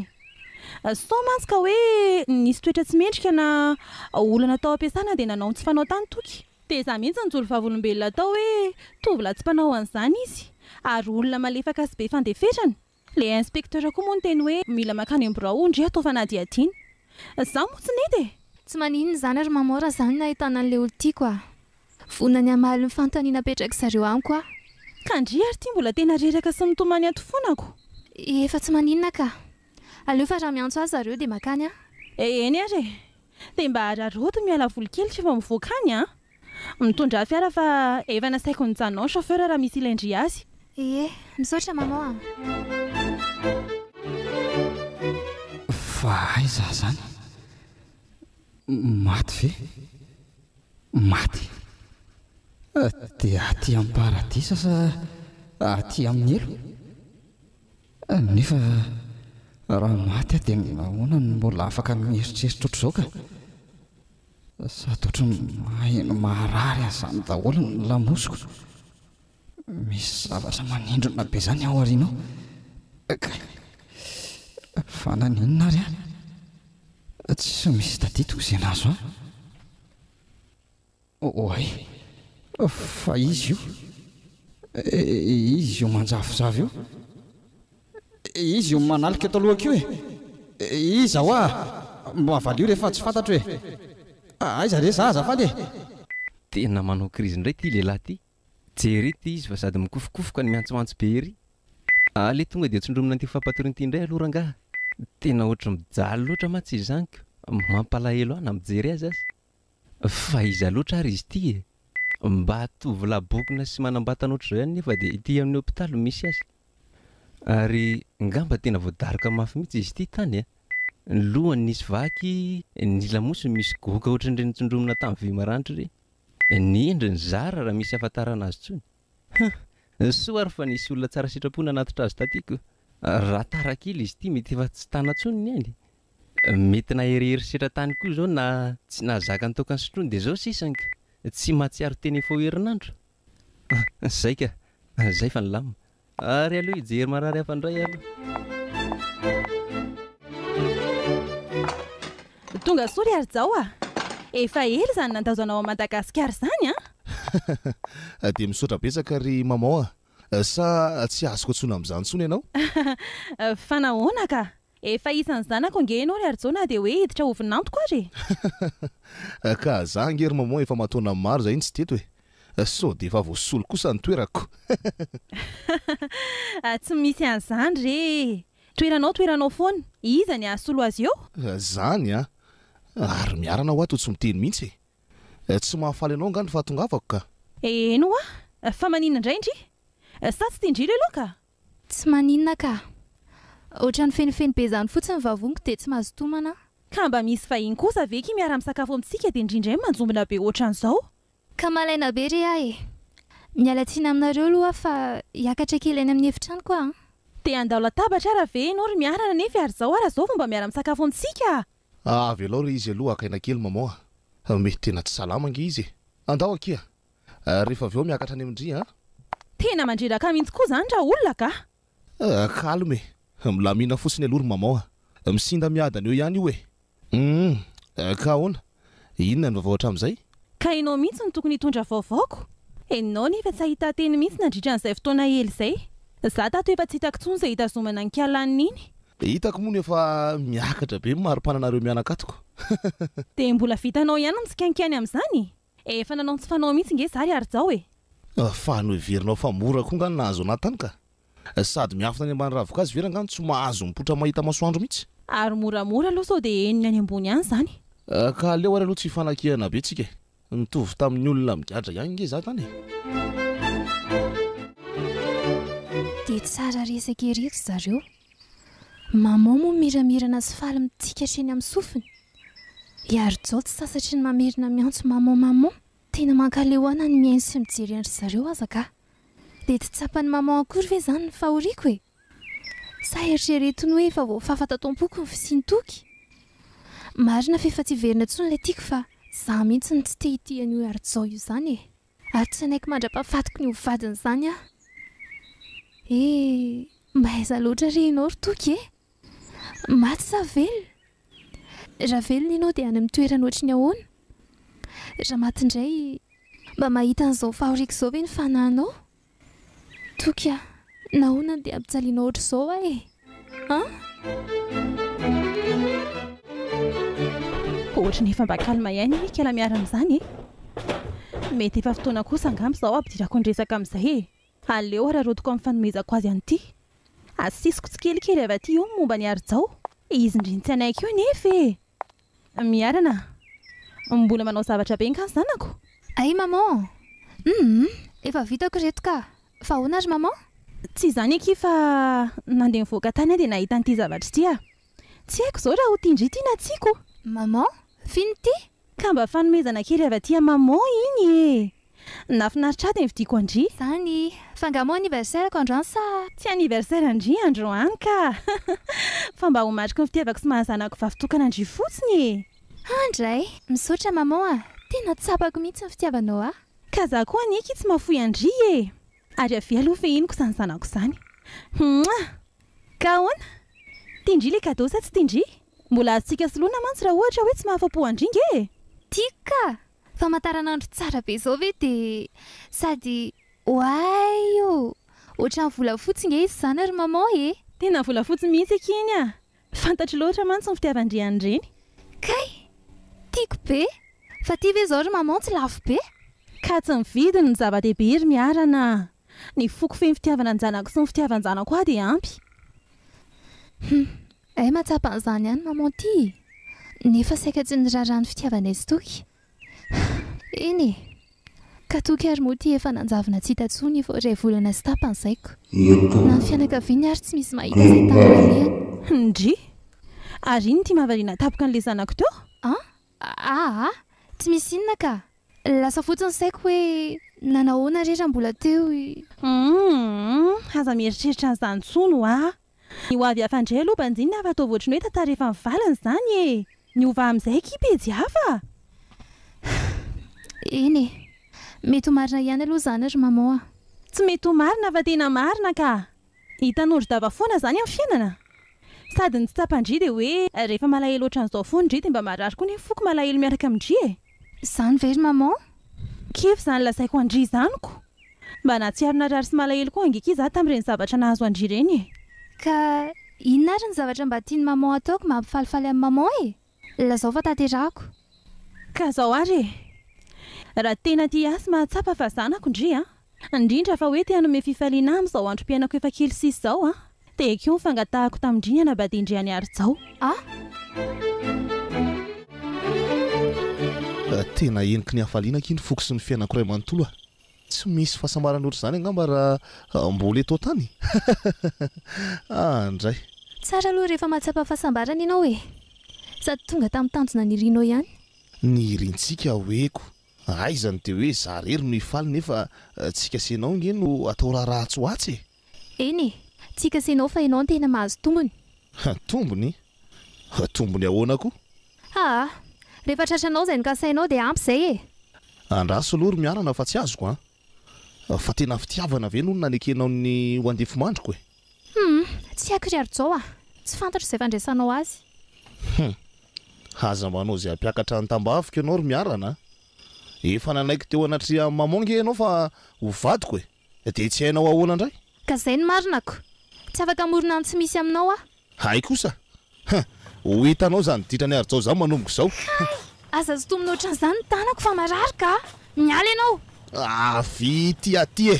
[SPEAKER 5] Soa mantsy ka hoe nisy toetra tsy mendrika na olana tao am-piasana dia nanao ny tsy fanao tany toky. Dia izaho mihitsy nijoro vavolombelona hatao hoe tovolahy tsy mpanao an'izany izy ary olona malefaka sy be fandeferana. Ilay inspecteur koa moa niteny hoe mila mankany am-birao ndry hatao fanadihadiana. Izaho moa tsy nety e! Tsy maninona izany ry
[SPEAKER 2] Maman raha izaho no nahitana an'ilay olon-tiako a! Vonona ny hamaly ny fanontaniana apetrak'i zareo amiko aho. Ka ndry
[SPEAKER 5] ary ity mbola tena reraka sy mitomany ato foana ko. Efa tsy
[SPEAKER 2] maninona ka. Aleo fa raha miantso ahy zareo dia makany aho. Eh eny ary e.
[SPEAKER 5] Dia mba araraoty miala voly kely rehefa mivoaka any an. Mitondrà fiara fa efa nasaiko nijanona ao chauffeur raha misy ilay ndry azy. Ie,
[SPEAKER 2] misaotra
[SPEAKER 5] maman an.
[SPEAKER 4] Fa aiza zany? Maty ve? Maty. Dia aty amin'ny paradisa sa aty amin'ny helo? Nefa raha maty aho dia ahoana no mbola afaka mieritreritra ohatr'izao ka? Sady ohatran'ny maheno maharary an'izany daholo ny lamosiko. Misy zavatra manindrona be izany ao aoriana ao. Kay! Fa naninona ary aho tsy misy tadidiko izay nahazo ahy? Oay! Fa izy io, izy io manjavozavo io, izy io manalika eto alohako io e! Iza hoa? Mba valio rehefa tsy fantatro e! Aiza re izaho azafady e! Tena
[SPEAKER 7] manao krizy indray ity lehilahy ity. Jereo ity izy fa sady mikofokofoka no miantsoantso be ery. Aleo tonga dia tsondromina an'ity fampatoriana ity indray aloha rangaha. Tena ohatry ny mijaly loatra mantsy izy izany ko. Mampalahelo ahy na mijery azy aza. Fa iza loatra ary izy ity e? Mba tovolahy bokona sy manambatana ohatr'izao ihany nefa dia ity amin'ny hopitaly no misy azy. Ary ngamba tena voadaroka mafy mihitsy izy ity tany a! Ny lohany nisy vaky, ny lamosiny misy goaka ohatrin'ireny nitsondromina tany vy maranitra ireny. Nendry ny zara raha misy ahafantarana azy tsony. Huh! Soa ary fa nisy olona tsara sitrapo nanatitra azy taty ko. Raha tara kely izy ity mety efa tsy tana tsony ny ainy. Mety nahery herisetra tany koa zao na tsy nahazaka nitoaka ny sotrony de zao sisany ko. Tsy mahatsiaro teny fô herinandro. Zay ka. Zay fa nilamina. Ary aleo hijery marary hafa indray aloha.
[SPEAKER 5] Tonga soa ry Harijao a! Efa ela izany nandaozanao an'i Madagasikara izany an!
[SPEAKER 3] Dia misaotra betsaka ry Maman a! Sa tsy azoko antsona amin'izany intsony ianao? Fa
[SPEAKER 5] nahoana ka? Efa isan'ny zanako ange ianao ry Arjo na dia hoe hiditra ho vinantoko ary e!
[SPEAKER 3] Ka za ange ry Maman efa mataona maro zahay tsy teto e! Sao dia efa voasolo kosa ny toerako?
[SPEAKER 5] Tsy misy an'izany re e! Toeranao toeranao foana, iza ny hahasolo azy eo? Zany
[SPEAKER 3] an! Ary miarana hoa to tsy miteny mihitsy e! Tsy mahafaly anao angaha ny fahatongavako ka? Eny hoa!
[SPEAKER 5] Fa maninona indray ndry? Sa tsy tian-dry ilay laoka? Tsy maninona
[SPEAKER 2] ka. Otrany fenofeno be zany fotsiny ny vavoniko de tsy mazotomana a. Ka mba misy
[SPEAKER 5] vahiny kosa ve ki miara misakafo amintsika de ndry ndray manjombona be otran'izao. Ka malaina
[SPEAKER 2] be re ahy e. Miala tsiny aminareo aloha aho fa hiakatra kely any amin'ny efitranoko aho an. Te handao
[SPEAKER 5] latabatra ara ve enao ry Miarana nefy ary zao ara zao vao mba miara misakafo amintsika a. Avelao re
[SPEAKER 3] izy aloha haka aina kely maman a. Mety tena tsy salama ange izy e. Andao akia. Rehefa avy eo miakatra any amin-dry an! Tena
[SPEAKER 5] mandreraka mihitsy koa izany raha olona ka! Ah, calme
[SPEAKER 3] e! Milamina fotsiny aloha ry maman a! Misinda miadana eo ihany io e! Humm! Ka ahoana? Inona ny vaovao hatramin'izay? Ka ianao mihitsy
[SPEAKER 5] no tokony hitondra vaovao ko! Ianao anie efa tsy hahita teny mihitsy nandritra an'izay fotoana ela izay! Za tato efa tsy hitako intsony izay hitazomana ny kialaniny iny! Hitako moa no efa
[SPEAKER 3] miakatra be ny mari-pananareo mianakatoko! Dia
[SPEAKER 5] mbola vitanao ihany ny tsikainkainy amin'izany e! Eh efa nanao ny tsy fanao mihitsy nge za ry Harijao e! Fa
[SPEAKER 3] noheverinao fa mora koa nga ny nahazo anah tany ka! Sady miafina any ambany ravin-kazo very angaha no tsy mahazo mipoitra mahita masoandro mihitsy? Ary moramora aloha sao dia
[SPEAKER 5] henony any ambony any izany! Ka aleo ary
[SPEAKER 3] aloha tsy hifanakihana be tsika e! Nitovy tamin'ny olona migadra ihany nge za tany e! Dia
[SPEAKER 2] tsara resaka ery ry zareo. Mamao moa miramirana sy faly mitsikatra eny amin'ny sofiny. I Harijao tsy sasatry ny mamerina miantso Mamao Mamao. Tena mankaleoana ny mihaino sy mijery an-dry zareo aza ka. Dia tsy tsapan'i Mamao akory ve izany ny fahoriako e? Sa eritrereto ny hoe efa voafafa tato am-poko ny fisian'i Toky? Marina fa efa tsy hiverina intsony ilay Tiako fa izaho mihitsy no tsy te hitia an'io Harijao io izany e! Ary tsy hanaiky mandra-pahafatiko ny ho vadin'izany aho. E! mahaiza loatra re ianao ry Toky e! Maty sa velona? Raha velona ianao dia any amin'ny toerany ohatry ny ahoana? Raha maty indray, mba mahita an'izao fahoriako izao ve ny fanahinao? Toky a! Nahoana no dia ampijalianao ohatr'izao ahy e! An!
[SPEAKER 5] Ohatry ny efa mba calme ihany ny kala miarina amin'izany e! Mety efa fotoana kosa angamba izao hampidirako ny resaka amin'izay e! Aleo hararaotiko amin'ny fanomezako azy an'ity. Asisiko tsikelikely avy aty eo ny momba an'i Harijao. Izy indry no tsy hanaiky io anefa e! Miarana, mbola manao zavatra be nga zanako? Ay maman,
[SPEAKER 2] humm efa vitako ireto ka! Fa ahoana ry maman? Tsy
[SPEAKER 5] izany akia fa nandeha nivoaka tany aho dia nahita an'ity
[SPEAKER 2] zavatra
[SPEAKER 5] ity aho. Tsy haiko izao raha ho tian-dry ity na tsia koa. Maman,
[SPEAKER 2] fino ity? Ka mba fanomezana
[SPEAKER 5] kely avy aty amin'i maman iny e! Nafinaritra ady nividiako an-dry. Zany. Fa nga
[SPEAKER 2] moa anniversaire ko androany sa. Tsy anniversaire an-dry
[SPEAKER 5] androany ka. Fa mba ho mariky ny fitiavako sy maha zanako vavy tokana an-dry fotsiny e. An dray.
[SPEAKER 2] Misaotra maman a. Tena tsapako mihitsy ny fitiavanao ahy. Ka za koa anie ki
[SPEAKER 5] tsy mahafoy an-dry e. Ary avia aloha fehiniko izany zanako izany. Mouah! Ka ahoana? Tian-dry le cadeau sa tsy tian-dry? Mbola azontsika soloina mantsy raha ohatra hoe tsy mahafapo an-dry nge e. Tiako ka!
[SPEAKER 2] Famataranandro tsara be zao ve de sady oay o! Ohatran'ny volafotsy nge izy zany ry maman e! Tena volafotsy
[SPEAKER 5] mihitsy akia iny a! Fantatro loatra mantsy ny fitiavan-dry an'ireny. Kay!
[SPEAKER 2] Tiako be! Fa ty ve zao ry maman tsy lafo be? Ka tsy ny
[SPEAKER 5] vidiny no zava-dehibe ry miarana a! Ny foko feno fitiavana ny zanako sy ny fitiavan-janako ahy dia ampy. Hum!
[SPEAKER 2] Hay mahatsapa an'izany ihany maman ty e! Nefa saika tsy niraharaha ny fitiavanay sy Toky. Eny e! Ka Toky ary moa ty efa nanjavona tsy hita tsony vao iray volana sy tapany zay ko! Na ny fianakaviany ary tsy misy mahita izay tany nalehany. Ndry!
[SPEAKER 5] Ary inn ty mahavariana tapoka an'le zanako teo? An? Aa! Tsy
[SPEAKER 2] misy inona ka! Lasa fotsiny saiko hoe nanahoana re raha mbola teo i. Humm!
[SPEAKER 5] Aza mieritreritra an'izany tsony ho'a! Ny ho avy hafa ndray aloha banjinina hafa ataovy ohatry ny hoe tantara efa nivaliny izany e! Miova amin'izay akia pejy hafa
[SPEAKER 2] a! Eny e! Mety ho marina ihany aloha izany ry maman a! Tsy mety ho
[SPEAKER 5] marina fa tena marina ka! Ny tanondro dava foana izany amin'ny fiainana! Sady ny tsy tsapan-dry dia hoe rehefa malahelo ohatran'izao foana indry dia mba marary koa ny foko malahelo miaraka amin-dry e! Zany ve ry maman?
[SPEAKER 2] Kivy zany
[SPEAKER 5] lazaiko an-dry izany ko! Mba nahatsiaro narary sy malahelo koa ange ki za tamin'ireny zavatra nahazo an-dry ireny e! Ka
[SPEAKER 2] inona ary ny zavatra mba tian'i maman ataoko mba hampifalifaly an'i maman e? Lazao fa tanterahako. Ka
[SPEAKER 5] zao ary e! Raha tena tia ahy sy mahatsapa fa zanako ndry a! indrindra fa hoe te hanome fifaliana ahy amin'izao androm-piainako efa kely sisa izao aho. Tehiko io ny fangatahako tamin-dry hanambadian-dry an'i Harijao aho.
[SPEAKER 3] Tena heniky ny hafaliana akia ny foko sy ny fiainako iray manontolo a! Tsy misy fahasambarana ohatr'izany angamba raha mbola eto an-tany e! Ah ndray! Tsara aloha rehefa
[SPEAKER 2] mahatsapa fahasambarana ianao e! Sady tonga tamin'ny tanjona nirianao ihany. Nirintsika
[SPEAKER 3] ho'eko. Aiza ny teo hoe za rery no hifaly nefa tsika sy enao nge no atao raharaha atsy ho atsy e! Eny e!
[SPEAKER 2] Tsika sy enao fa enao no tena mahazo tombony. Tombony?
[SPEAKER 3] Tombony ahoana ko? Haa! Rehefa tratranao
[SPEAKER 2] izay nokasainao dia ampy izay e! Andraso aloha ry
[SPEAKER 3] miarana fa tsy azoko an! Fa tena fitiavana ve no nanekenao ny ho andefimandriko e? Humm, tsy haiko
[SPEAKER 2] ry Harijao a! Tsy fantatro izay fandraisanao azy. Humm, aza
[SPEAKER 3] manao izay hampiakatra ny tambaviko ianao ry Miarana a! Efa nanaiky teo anatrehan'i Maman nge ianao fa ho vadiko e! Dia tsy hainao ahoana indray? Ka izay no marinako!
[SPEAKER 2] Tsy afaka hamorona ny tsy misy aminao aho. Hay kosa!
[SPEAKER 3] Ha! Ho hitanao zany ditrany ary zao zaho manomboka izao! Ha! Aza zotomy
[SPEAKER 2] nohatran'izany ny tanako fa marary ka! Miala ianao! Avy ity aty
[SPEAKER 3] e!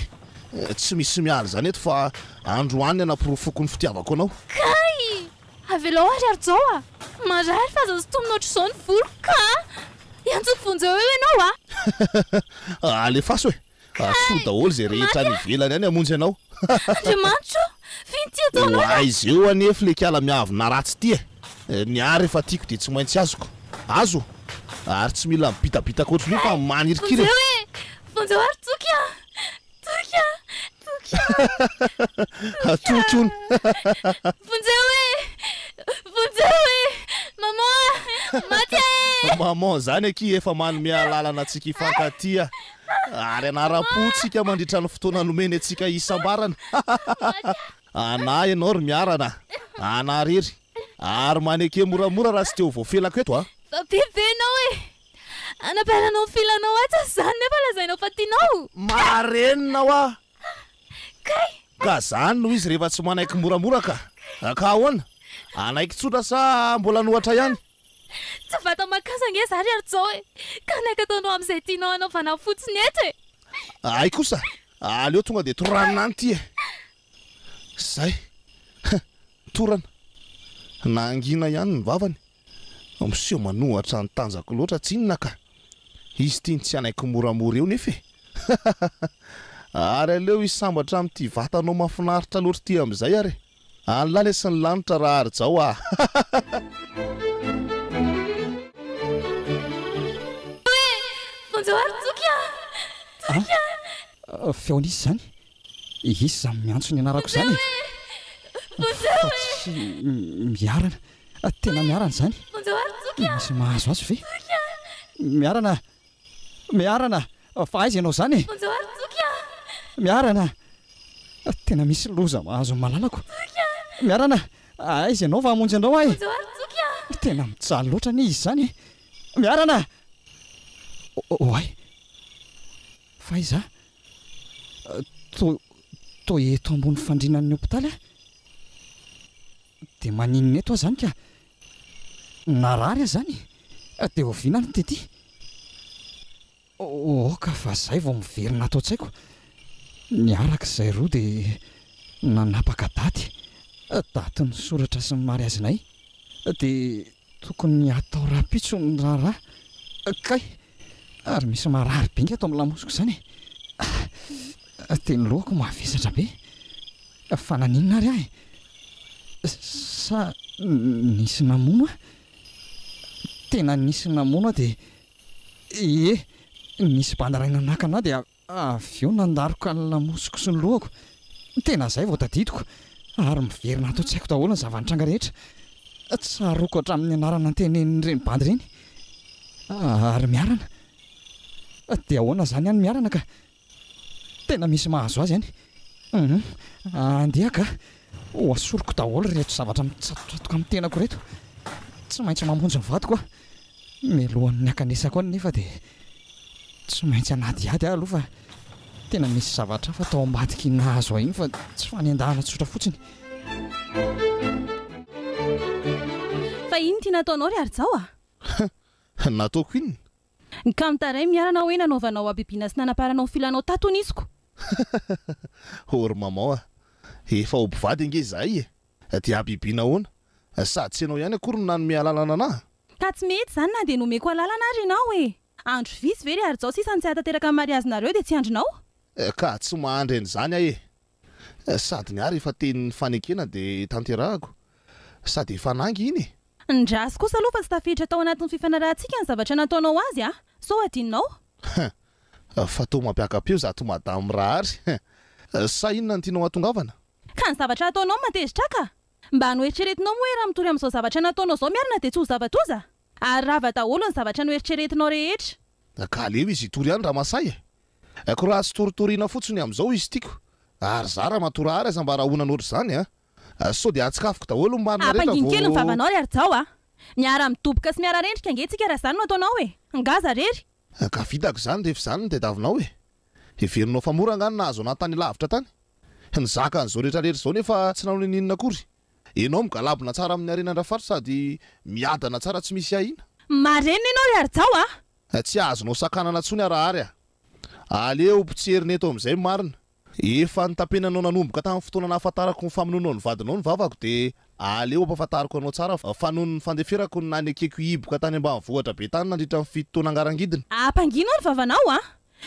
[SPEAKER 3] Tsy misy miala izany eto fa androany hanaporofoako ny fitiavako anao! Kay!
[SPEAKER 2] Avelao ary ary zao a! Marary fa aza zotomy nohatran'izao ny voloko ka! Iantso ny vonjeo eo ianao a! Alefaso e!
[SPEAKER 3] Hasoa daholo izay rehetra any ivelany any hamonjy anao. Andriamanitro o!
[SPEAKER 2] Vino ity ataonao na. Ho aiza eo anefl
[SPEAKER 3] le kiala miavo na ratsy ity e! Ny ahy rehefa tiako dia tsy maintsy azoko. Azo? Ary tsy mila mibitabitaka ohatran'io fa manirikiry e! Vonjeo e! Vonjeo
[SPEAKER 2] ary toky an! Toky an! Toky an! Toky
[SPEAKER 3] an! Toky hono! Vonjeo
[SPEAKER 2] e! Vonjeo e! Maman a! Maty aho e! Maman zany akia
[SPEAKER 3] efa manome alalana antsika hifankatia. Ary hanaram-po tsika mandritra ny fotoana nomeny antsika hisambarana. Anà ianao ry Miarana a! Anà rery! Ary maneke moramora raha tsy te ho voafelako eto a! Fa be ve ianao
[SPEAKER 2] e! Anabaranao ny filanao atsy aza izany nefa lazainao fa tianao! Marenina hoa!
[SPEAKER 3] Kay!
[SPEAKER 2] Ka izany
[SPEAKER 3] no izy rehefa tsy manaiky moramora ka! Ka ahoana? Hanaiky tsotra sa mbola nohatra ihany? Tsy vata
[SPEAKER 2] makasa ange za ry Arjao e! Ka ny ankataonao amin'izay tianao hanaovana fotsiny eto e! Hay kosa!
[SPEAKER 3] Aleo tonga dia toranina any ity e! Izay! Torana! Nahangina ihany ny vavany. Miseho manohatra ny tanjako loatra tsinona ka! Izy ity ny tsy hanaiky moramora eo nefa e! Ary aleo hisambatra amin'ity vatanao mahafinaritra loatra ity amin'izay ary e! Any lahy lesy ny lanitra raha ary zao ah
[SPEAKER 4] Bonjour Toky a! Toky a! Feon'iza izany? Iza izany miantso ny anarako izany e? Bonjour e! Fa tsy Miarana? Tena Miarana izany? Bonjour Toky a! Misy mahazo azy ve? Toky a! Miarana! Miarana, fa aiza ianao izany e? Bonjour Toky a! Miarana, tena misy loza mahazo ny malalako. Toky a! Miarana, aiza ianao fa hamonjy anao aho e? Bonjour Toky a! Tena mijaly loatra anie izy izany e! Miarana! Oay! Fa aiza? Toa, toa eto ambony fandrianan'ny hopitaly aho. Dia maninona eto aho izany ka? Narary aza izany e! Dia oviana ary ny tetỳ? Aoka fa izay vao miverina ato an-tsaiko. Niaraka izahay roa dia nanapaka daty, daty nisoratra sy ny mariazinay. Dia tokony hatao rahampitso ny raharaha. Kay! Ary misy marary bingy ato amin'ny lamosiko izany e! Dia ny lohako mavesatra be. Fa naninona ary ahy? Sa nisy namono ahy? Tena nisy namono ahy dia ie, nisy bandy iray nanakana ahy dia avy eo nandaroka ny lamosiko sy ny lohako. Tena izay vao tadidiko ary miverina ato an-tsaiko daholo ny zava-nitranga rehetra. Tsaroako hatramin'ny anarana notenenin'ireny bandy ireny. Ary Miarana? Dia ahoana izany any Miarana ka? Tena misy mahazo azy any. Hum, andeha ka. Hoasoriko daholo ireto zavatra mitsatotsatoka amin'ny tenako ireto. Tsy maintsy mamonjy ny vadiko aho. Mialohan'ny hakanesako any nefa dia tsy maintsy hanadihady aho aloha fa tena misy zavatra hafa tao ambadiky iny nahazo ahy iny fa tsy fanendahana tsotra fotsiny.
[SPEAKER 5] Fa inn ty nataonao ry Harijao a?
[SPEAKER 3] Nataoko inona? Nkamta
[SPEAKER 5] ray miarana hoe nanaovanao habibiana sy nanaparanao filanao tato nisiko.
[SPEAKER 3] Or maman a! Efa ho mpivady ange izahay e! Dia habibiana ahoana? Sady tsy ianao ihany akory no nanome alalana anah! Ka tsy mety izany
[SPEAKER 5] na dia nomeko alalana ary ianao e! Andro vitsy ve ry Harijao sisa no tsy hahatanteraka ny mariazinareo dia tsy andrinao? Ka tsy
[SPEAKER 3] mahandry an'izany aho e! Sady ny ahy rehefa teny fanekena dia tanterahako, sady efa nanga iny e! Ndraso kosa aloha
[SPEAKER 5] fa tsy tafiditra tao anatin'ny fifanarahantsika ny zavatra nataonao azy a! Sao hadinonao? Hein!
[SPEAKER 3] Fa toa mampiaka-peo zato madame Rahary hein! Sa inona no tianao hahatongavana? Ka ny zavatra
[SPEAKER 5] ataonao no matezitra ahy ka! Mba noeritreretinao moa hoe raha mitory amin'izao zavatra nataonao izao miarina dia tsy ho zava-doza? Ary rava daholo ny zavatra noeritreretinao rehetra. Kaleo izy hitory
[SPEAKER 3] any Ramasahy e! Ko raha tsy toritoriana fotsiny amin'izao izy tiako ary za ramatoa rahary aza mba rahonana ohatr'izany a! Sao dia atsikafoko daholo ny marina rehetra vao. Ampangino kely ny vavanao ry
[SPEAKER 5] Harijao a! Miara midoboka sy miara rendrika ange tsika raha izany no ataonao e! Nga aza rery! Ka vitako izany
[SPEAKER 3] rehefa izany no tadiavinao e! Heverinao fa mora nga ny nahazo anah tany lavitra tany? Nizaka an'izao rehetra rehetra izao nefa tsy nanao ninininona akory! Enao migalabona tsara amin'ny harena ndrafar sady miadana tsara tsy misy ahiana. Marenina ianao ry
[SPEAKER 5] Harijao a! Tsy azonao sakanana
[SPEAKER 3] tsony Arahary a! Aleo potserina eto amin'izay ny marina. Efa notapenanao nanomboka tamin'ny fotoana nahafantarako ny famonoanao ny vadinao ny vavako dia aleo ampahafantariko anao tsara fa noho ny fandeferako ny nanekeko hiboka tany ambanivohitra be tany nandritra ny fito taona angarangidina. Ampangino ny vavanao
[SPEAKER 5] a!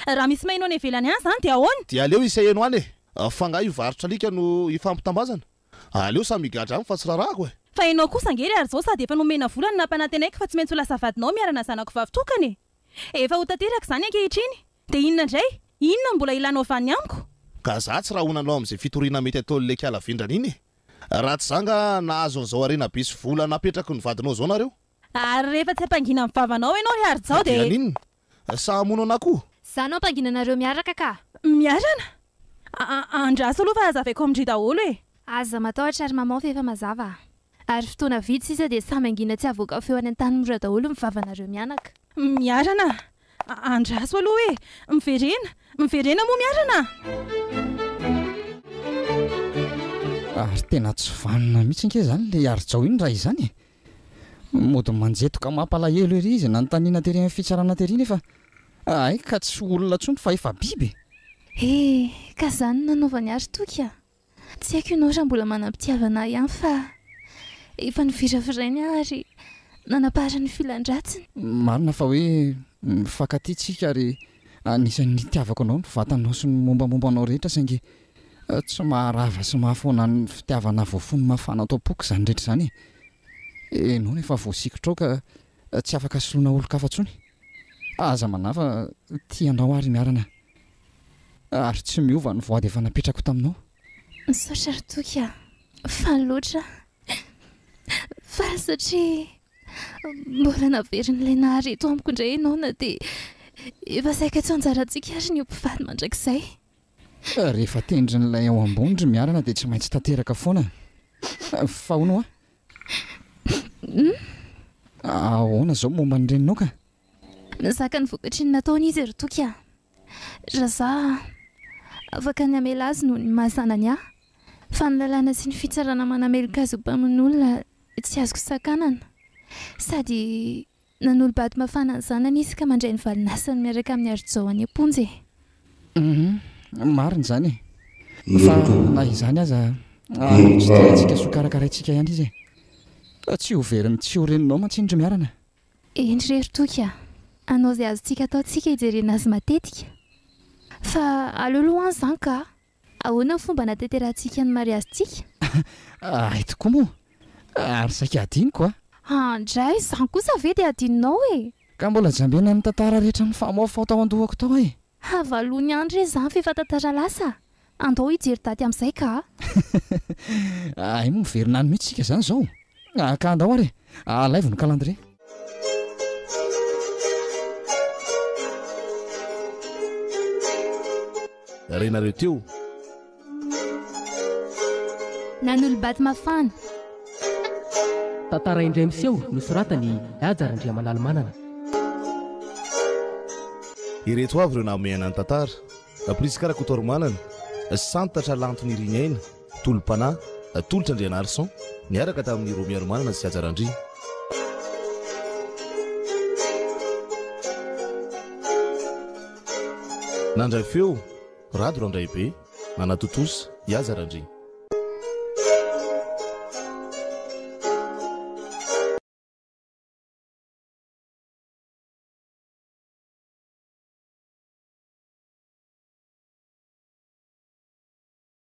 [SPEAKER 5] Raha misy maheno any ivelany any izany dia ahoana? Dia aleo iseheno any e!
[SPEAKER 3] Fa nga io varotra alika no ifampitambazana? Aleo samy higadra any fa tsy rarako e! Fa enao kosa ange ry
[SPEAKER 5] ary zao sady efa nomena vola no nampanantenaiko fa tsy maintsy ho lasa vadinao miarana zanako vavy tokana e! Efa ho tanteraka izany ankehitriny! Dia inona indray? Inona no mbola ilanao avy any amiko? Ka za tsy rahona
[SPEAKER 3] anao amin'izay fitoriana mety ataon'ny leka ala vendrana iny e! Raha tsy za nga nahazo an'izao harena be sy vola napetraky ny vadinao zao nareo? Ary rehefa tsy
[SPEAKER 5] hampangina ny vavanao enao ry Harijao dia. Dia haninona? Sa hamono
[SPEAKER 3] anà koa? Za no hampangina anareo
[SPEAKER 2] miaraka ka! Miarana?
[SPEAKER 5] A-a-a andraso aloha fa hazavaiko amin-dry daholo e! Aza matahotra
[SPEAKER 2] ry maman fa efa mazava. Ary fotoana vitsy sisa dia samy hangina tsy havoaka feo any an-tany mora daholo ny vavanareo mianaka. Miarana?
[SPEAKER 5] A-a andraso aloha e! Miverena? Miverena moa miarana?
[SPEAKER 4] Ary tena tsy vanona mihitsy ange izany ilay Harijao iny raha izany e! Mody manjetoka mampalahelo ery izy nanontaniana tery amin'ny fitsarana tery nefa hay ka tsy olona intsony fa efa biby e! He,
[SPEAKER 2] ka izany no nanaovany ary Toky a! Tsy haiko ianao raha mbola manam-pitiavana ahy ihany fa efa noviravirainy aho ary nanapaharany ny filan-dratsiny. Marina fa hoe
[SPEAKER 4] mifankatia tsika ary anisan'ny nitiavako anao ny vatanao sy ny mombamomba anao rehetra saingy Tsy maharava sy mahafoana ny fitiavana voafony mafana ato am-poko izany rehetra izany e! Enona efa voasikotra ao ka tsy afaka soloina olon-kafa intsony? Aza manahy fa tia anao aho ry Miarana ary tsy miova ny voady efa napetrako taminao. Misaotra ry
[SPEAKER 2] Toky a! Faly loatra aho! Faly satria mbola naverin'ilay nahary eto amiko indray ianao na dia efa saika tsy anjarantsika ary ny ho mpifaly mandrakizay. Fa rehefa
[SPEAKER 4] tendrin'ilay ao ambony ry Miarana dia tsy maintsy tanteraka foana fa hono hoa. Ahoana izao momba ny reninao ka? Nizaka
[SPEAKER 2] ny vokatry ny nataony izy ry Toky a! Raha za afaka ny hamela azy noho ny maha zanany ahy fa ny lalàna sy ny fitsarana manameloka azy ho mpamono olona tsy azoko sakanana sady Nanolo-bady mafana ny zanany izy ka mandray ny valin'asany miaraka amin'i Harijao any am-ponja e! Humm
[SPEAKER 4] marina izany e! Fa na izany aza tsy te hiatsika soa karakaraintsika ihany izy e! Tsy ho verin'ny tsy ho reninao mantsy iny ry Miarana! Eny re ry
[SPEAKER 2] Toky a! Hanao izay azontsika atao tsika hijerena azy matetika! Fa aleo aloha an izany ka! Ahoana ny fomba nahatanterahantsika ny mariazintsika? Hay
[SPEAKER 4] tokoa moa! Ary saika hadinoko a! Andray,
[SPEAKER 2] izany kosa ve dia hadinonao e! Ka mbola
[SPEAKER 4] jambena ny tantara rehetra nifamaofao tao an-dohako tao e! Havalony ihany
[SPEAKER 2] re izany f'efa tantara lasa! Andao hijery daty amin'izay ka a!
[SPEAKER 4] Hay moa miverina any mihitsy isika izany izao? Ah ka andao ary e! Alaivo ny calendrier.
[SPEAKER 3] Renareo teo.
[SPEAKER 2] Nanolo-bato mafana. Tantara
[SPEAKER 1] indray miseho nosoratan'i Haja Randriamanalo Manana.
[SPEAKER 3] Ireto avy ireo nahamehana ny tantara, Prisca Rakotoarimanana, Santatra Lanto Nirina Aina, Tolom-panahy, Tolotra Andrianarison, niaraka tamin'i Romy Haromanana sy Haja Randria. Nandray feo, Rado Randraibe, nanatontosa, i Haja Randria.